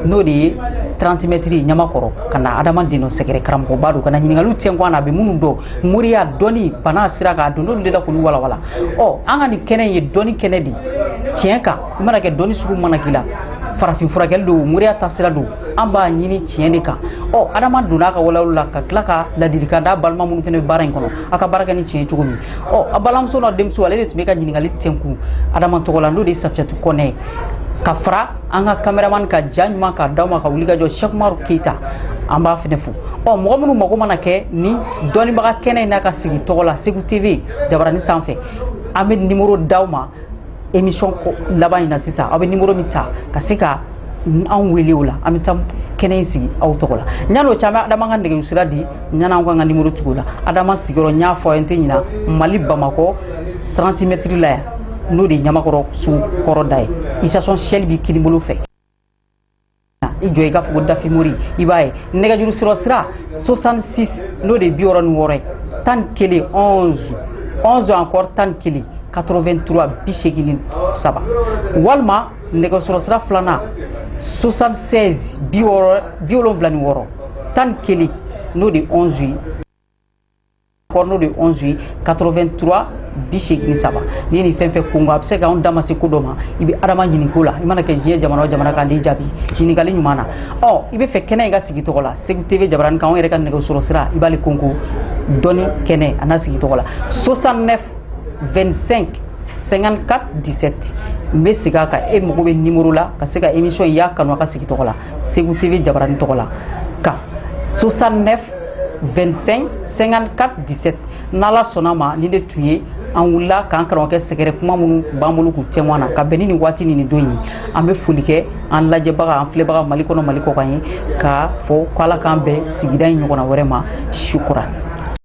n'o de ye 30 mɛtiri ɲamakɔrɔ ka na adama denɔ sɛgɛrɛ karamɔgɔba don ka na ɲininkaliw tiɲɛ kɔ a na a bɛ minnu dɔn moriya dɔnni bana sira kan a donn'olu de la k'olu walawala ɔ an ka nin kɛnɛ in ye dɔnni kɛnɛ de tiɲɛ kan i mana kɛ dɔnni sugu mana k'i la farafin furakɛli don moriya ta sira don an b'a ɲini tiɲɛ de kan ɔ adama donna ka walawala ka tila ka ladilikan da balima minnu fana bɛ baara in kɔnɔ a ka baara kɛ ni tiɲɛ cogo min ɔ a balimamuso n'a denmuso ale de tun bɛ ka ɲininkali tɛnkun adama tɔgɔ la n'o de ye safiyatu kɔnɛ ye ka fara an ka kameraman ka ja ɲuman k'a d'aw ma ka wuli ka jɔ sɛkumaru keyita an b'a fana fo ɔ mɔgɔ minnu mago mana kɛ nin dɔnnibaga kɛnɛ in n'a ka sigi tɔgɔ la segu tv jabarani sanfɛ an bɛ nimoro d'aw ma émission ko laban in na sisan aw bɛ nimoro min ta ka se ka anw wele o la an bɛ taa kɛnɛ in sigi aw tɔgɔ la yann'o cɛ an bɛ adama ka nɛgɛjuru sira di yann'an k'an ka nimoro tugu o la adama sigiyɔrɔ n y'a fɔ aw ye n tɛ ɲina mali bamakɔ 30 mɛtiri la yan n'o de ye ɲamakɔrɔ sugu kɔrɔ da ye station shell b'i kinibolo fɛ i jɔ i k'a fɔ ko dafin mori i b'a ye nɛgɛjuru sɔrɔ sira 66 n'o de ye bi wɔɔrɔ ni wɔɔrɔ ye tan ni kelen 11 11 encore tan ni kelen 83 bi seegin ni saba walima nɛgɛsɔrɔ sira filanan 76 bi wɔɔrɔ bi wolonwula ni wɔɔrɔ tan ni kelen n'o de ye 11 ye encore n'o de 11 ye 83 bi seegin saba n'i ye nin fɛn o fɛn kunkan a bɛ se ka anw da ma se ko dɔ ma i bɛ adama ɲininka o la i mana kɛ diɲɛ jamana o jamana kan n'i jaabi ɲininkali ɲuman na ɔ i b'a fɛ kɛnɛ in ka sigi tɔgɔ la segu tv jabarani kan anw yɛrɛ ka nɛgɛsɔrɔ sira i b'ale konko dɔnni kɛnɛ a na sigi tɔgɔ la 69 25 54 17 n bɛ segin a kan e mago bɛ nimoro la ka se ka émission in y'a kanu a ka sigi tɔgɔ la segu tv jabarani tɔgɔ la kan 69 25 54 17 n'ala sɔnna ma nin de tun ye an wulila k'an karamɔgɔkɛ sɛgɛrɛ kuma minnu b'an bolo k'u tɛmɛn na ka bɛn ni nin waati ni nin don ye an bɛ foli kɛ an lajɛbaga an filɛbaga mali kɔnɔ mali kɔkan ye k'a fɔ ko ala k'an bɛn sigida in ɲɔgɔnna wɛrɛ ma sukura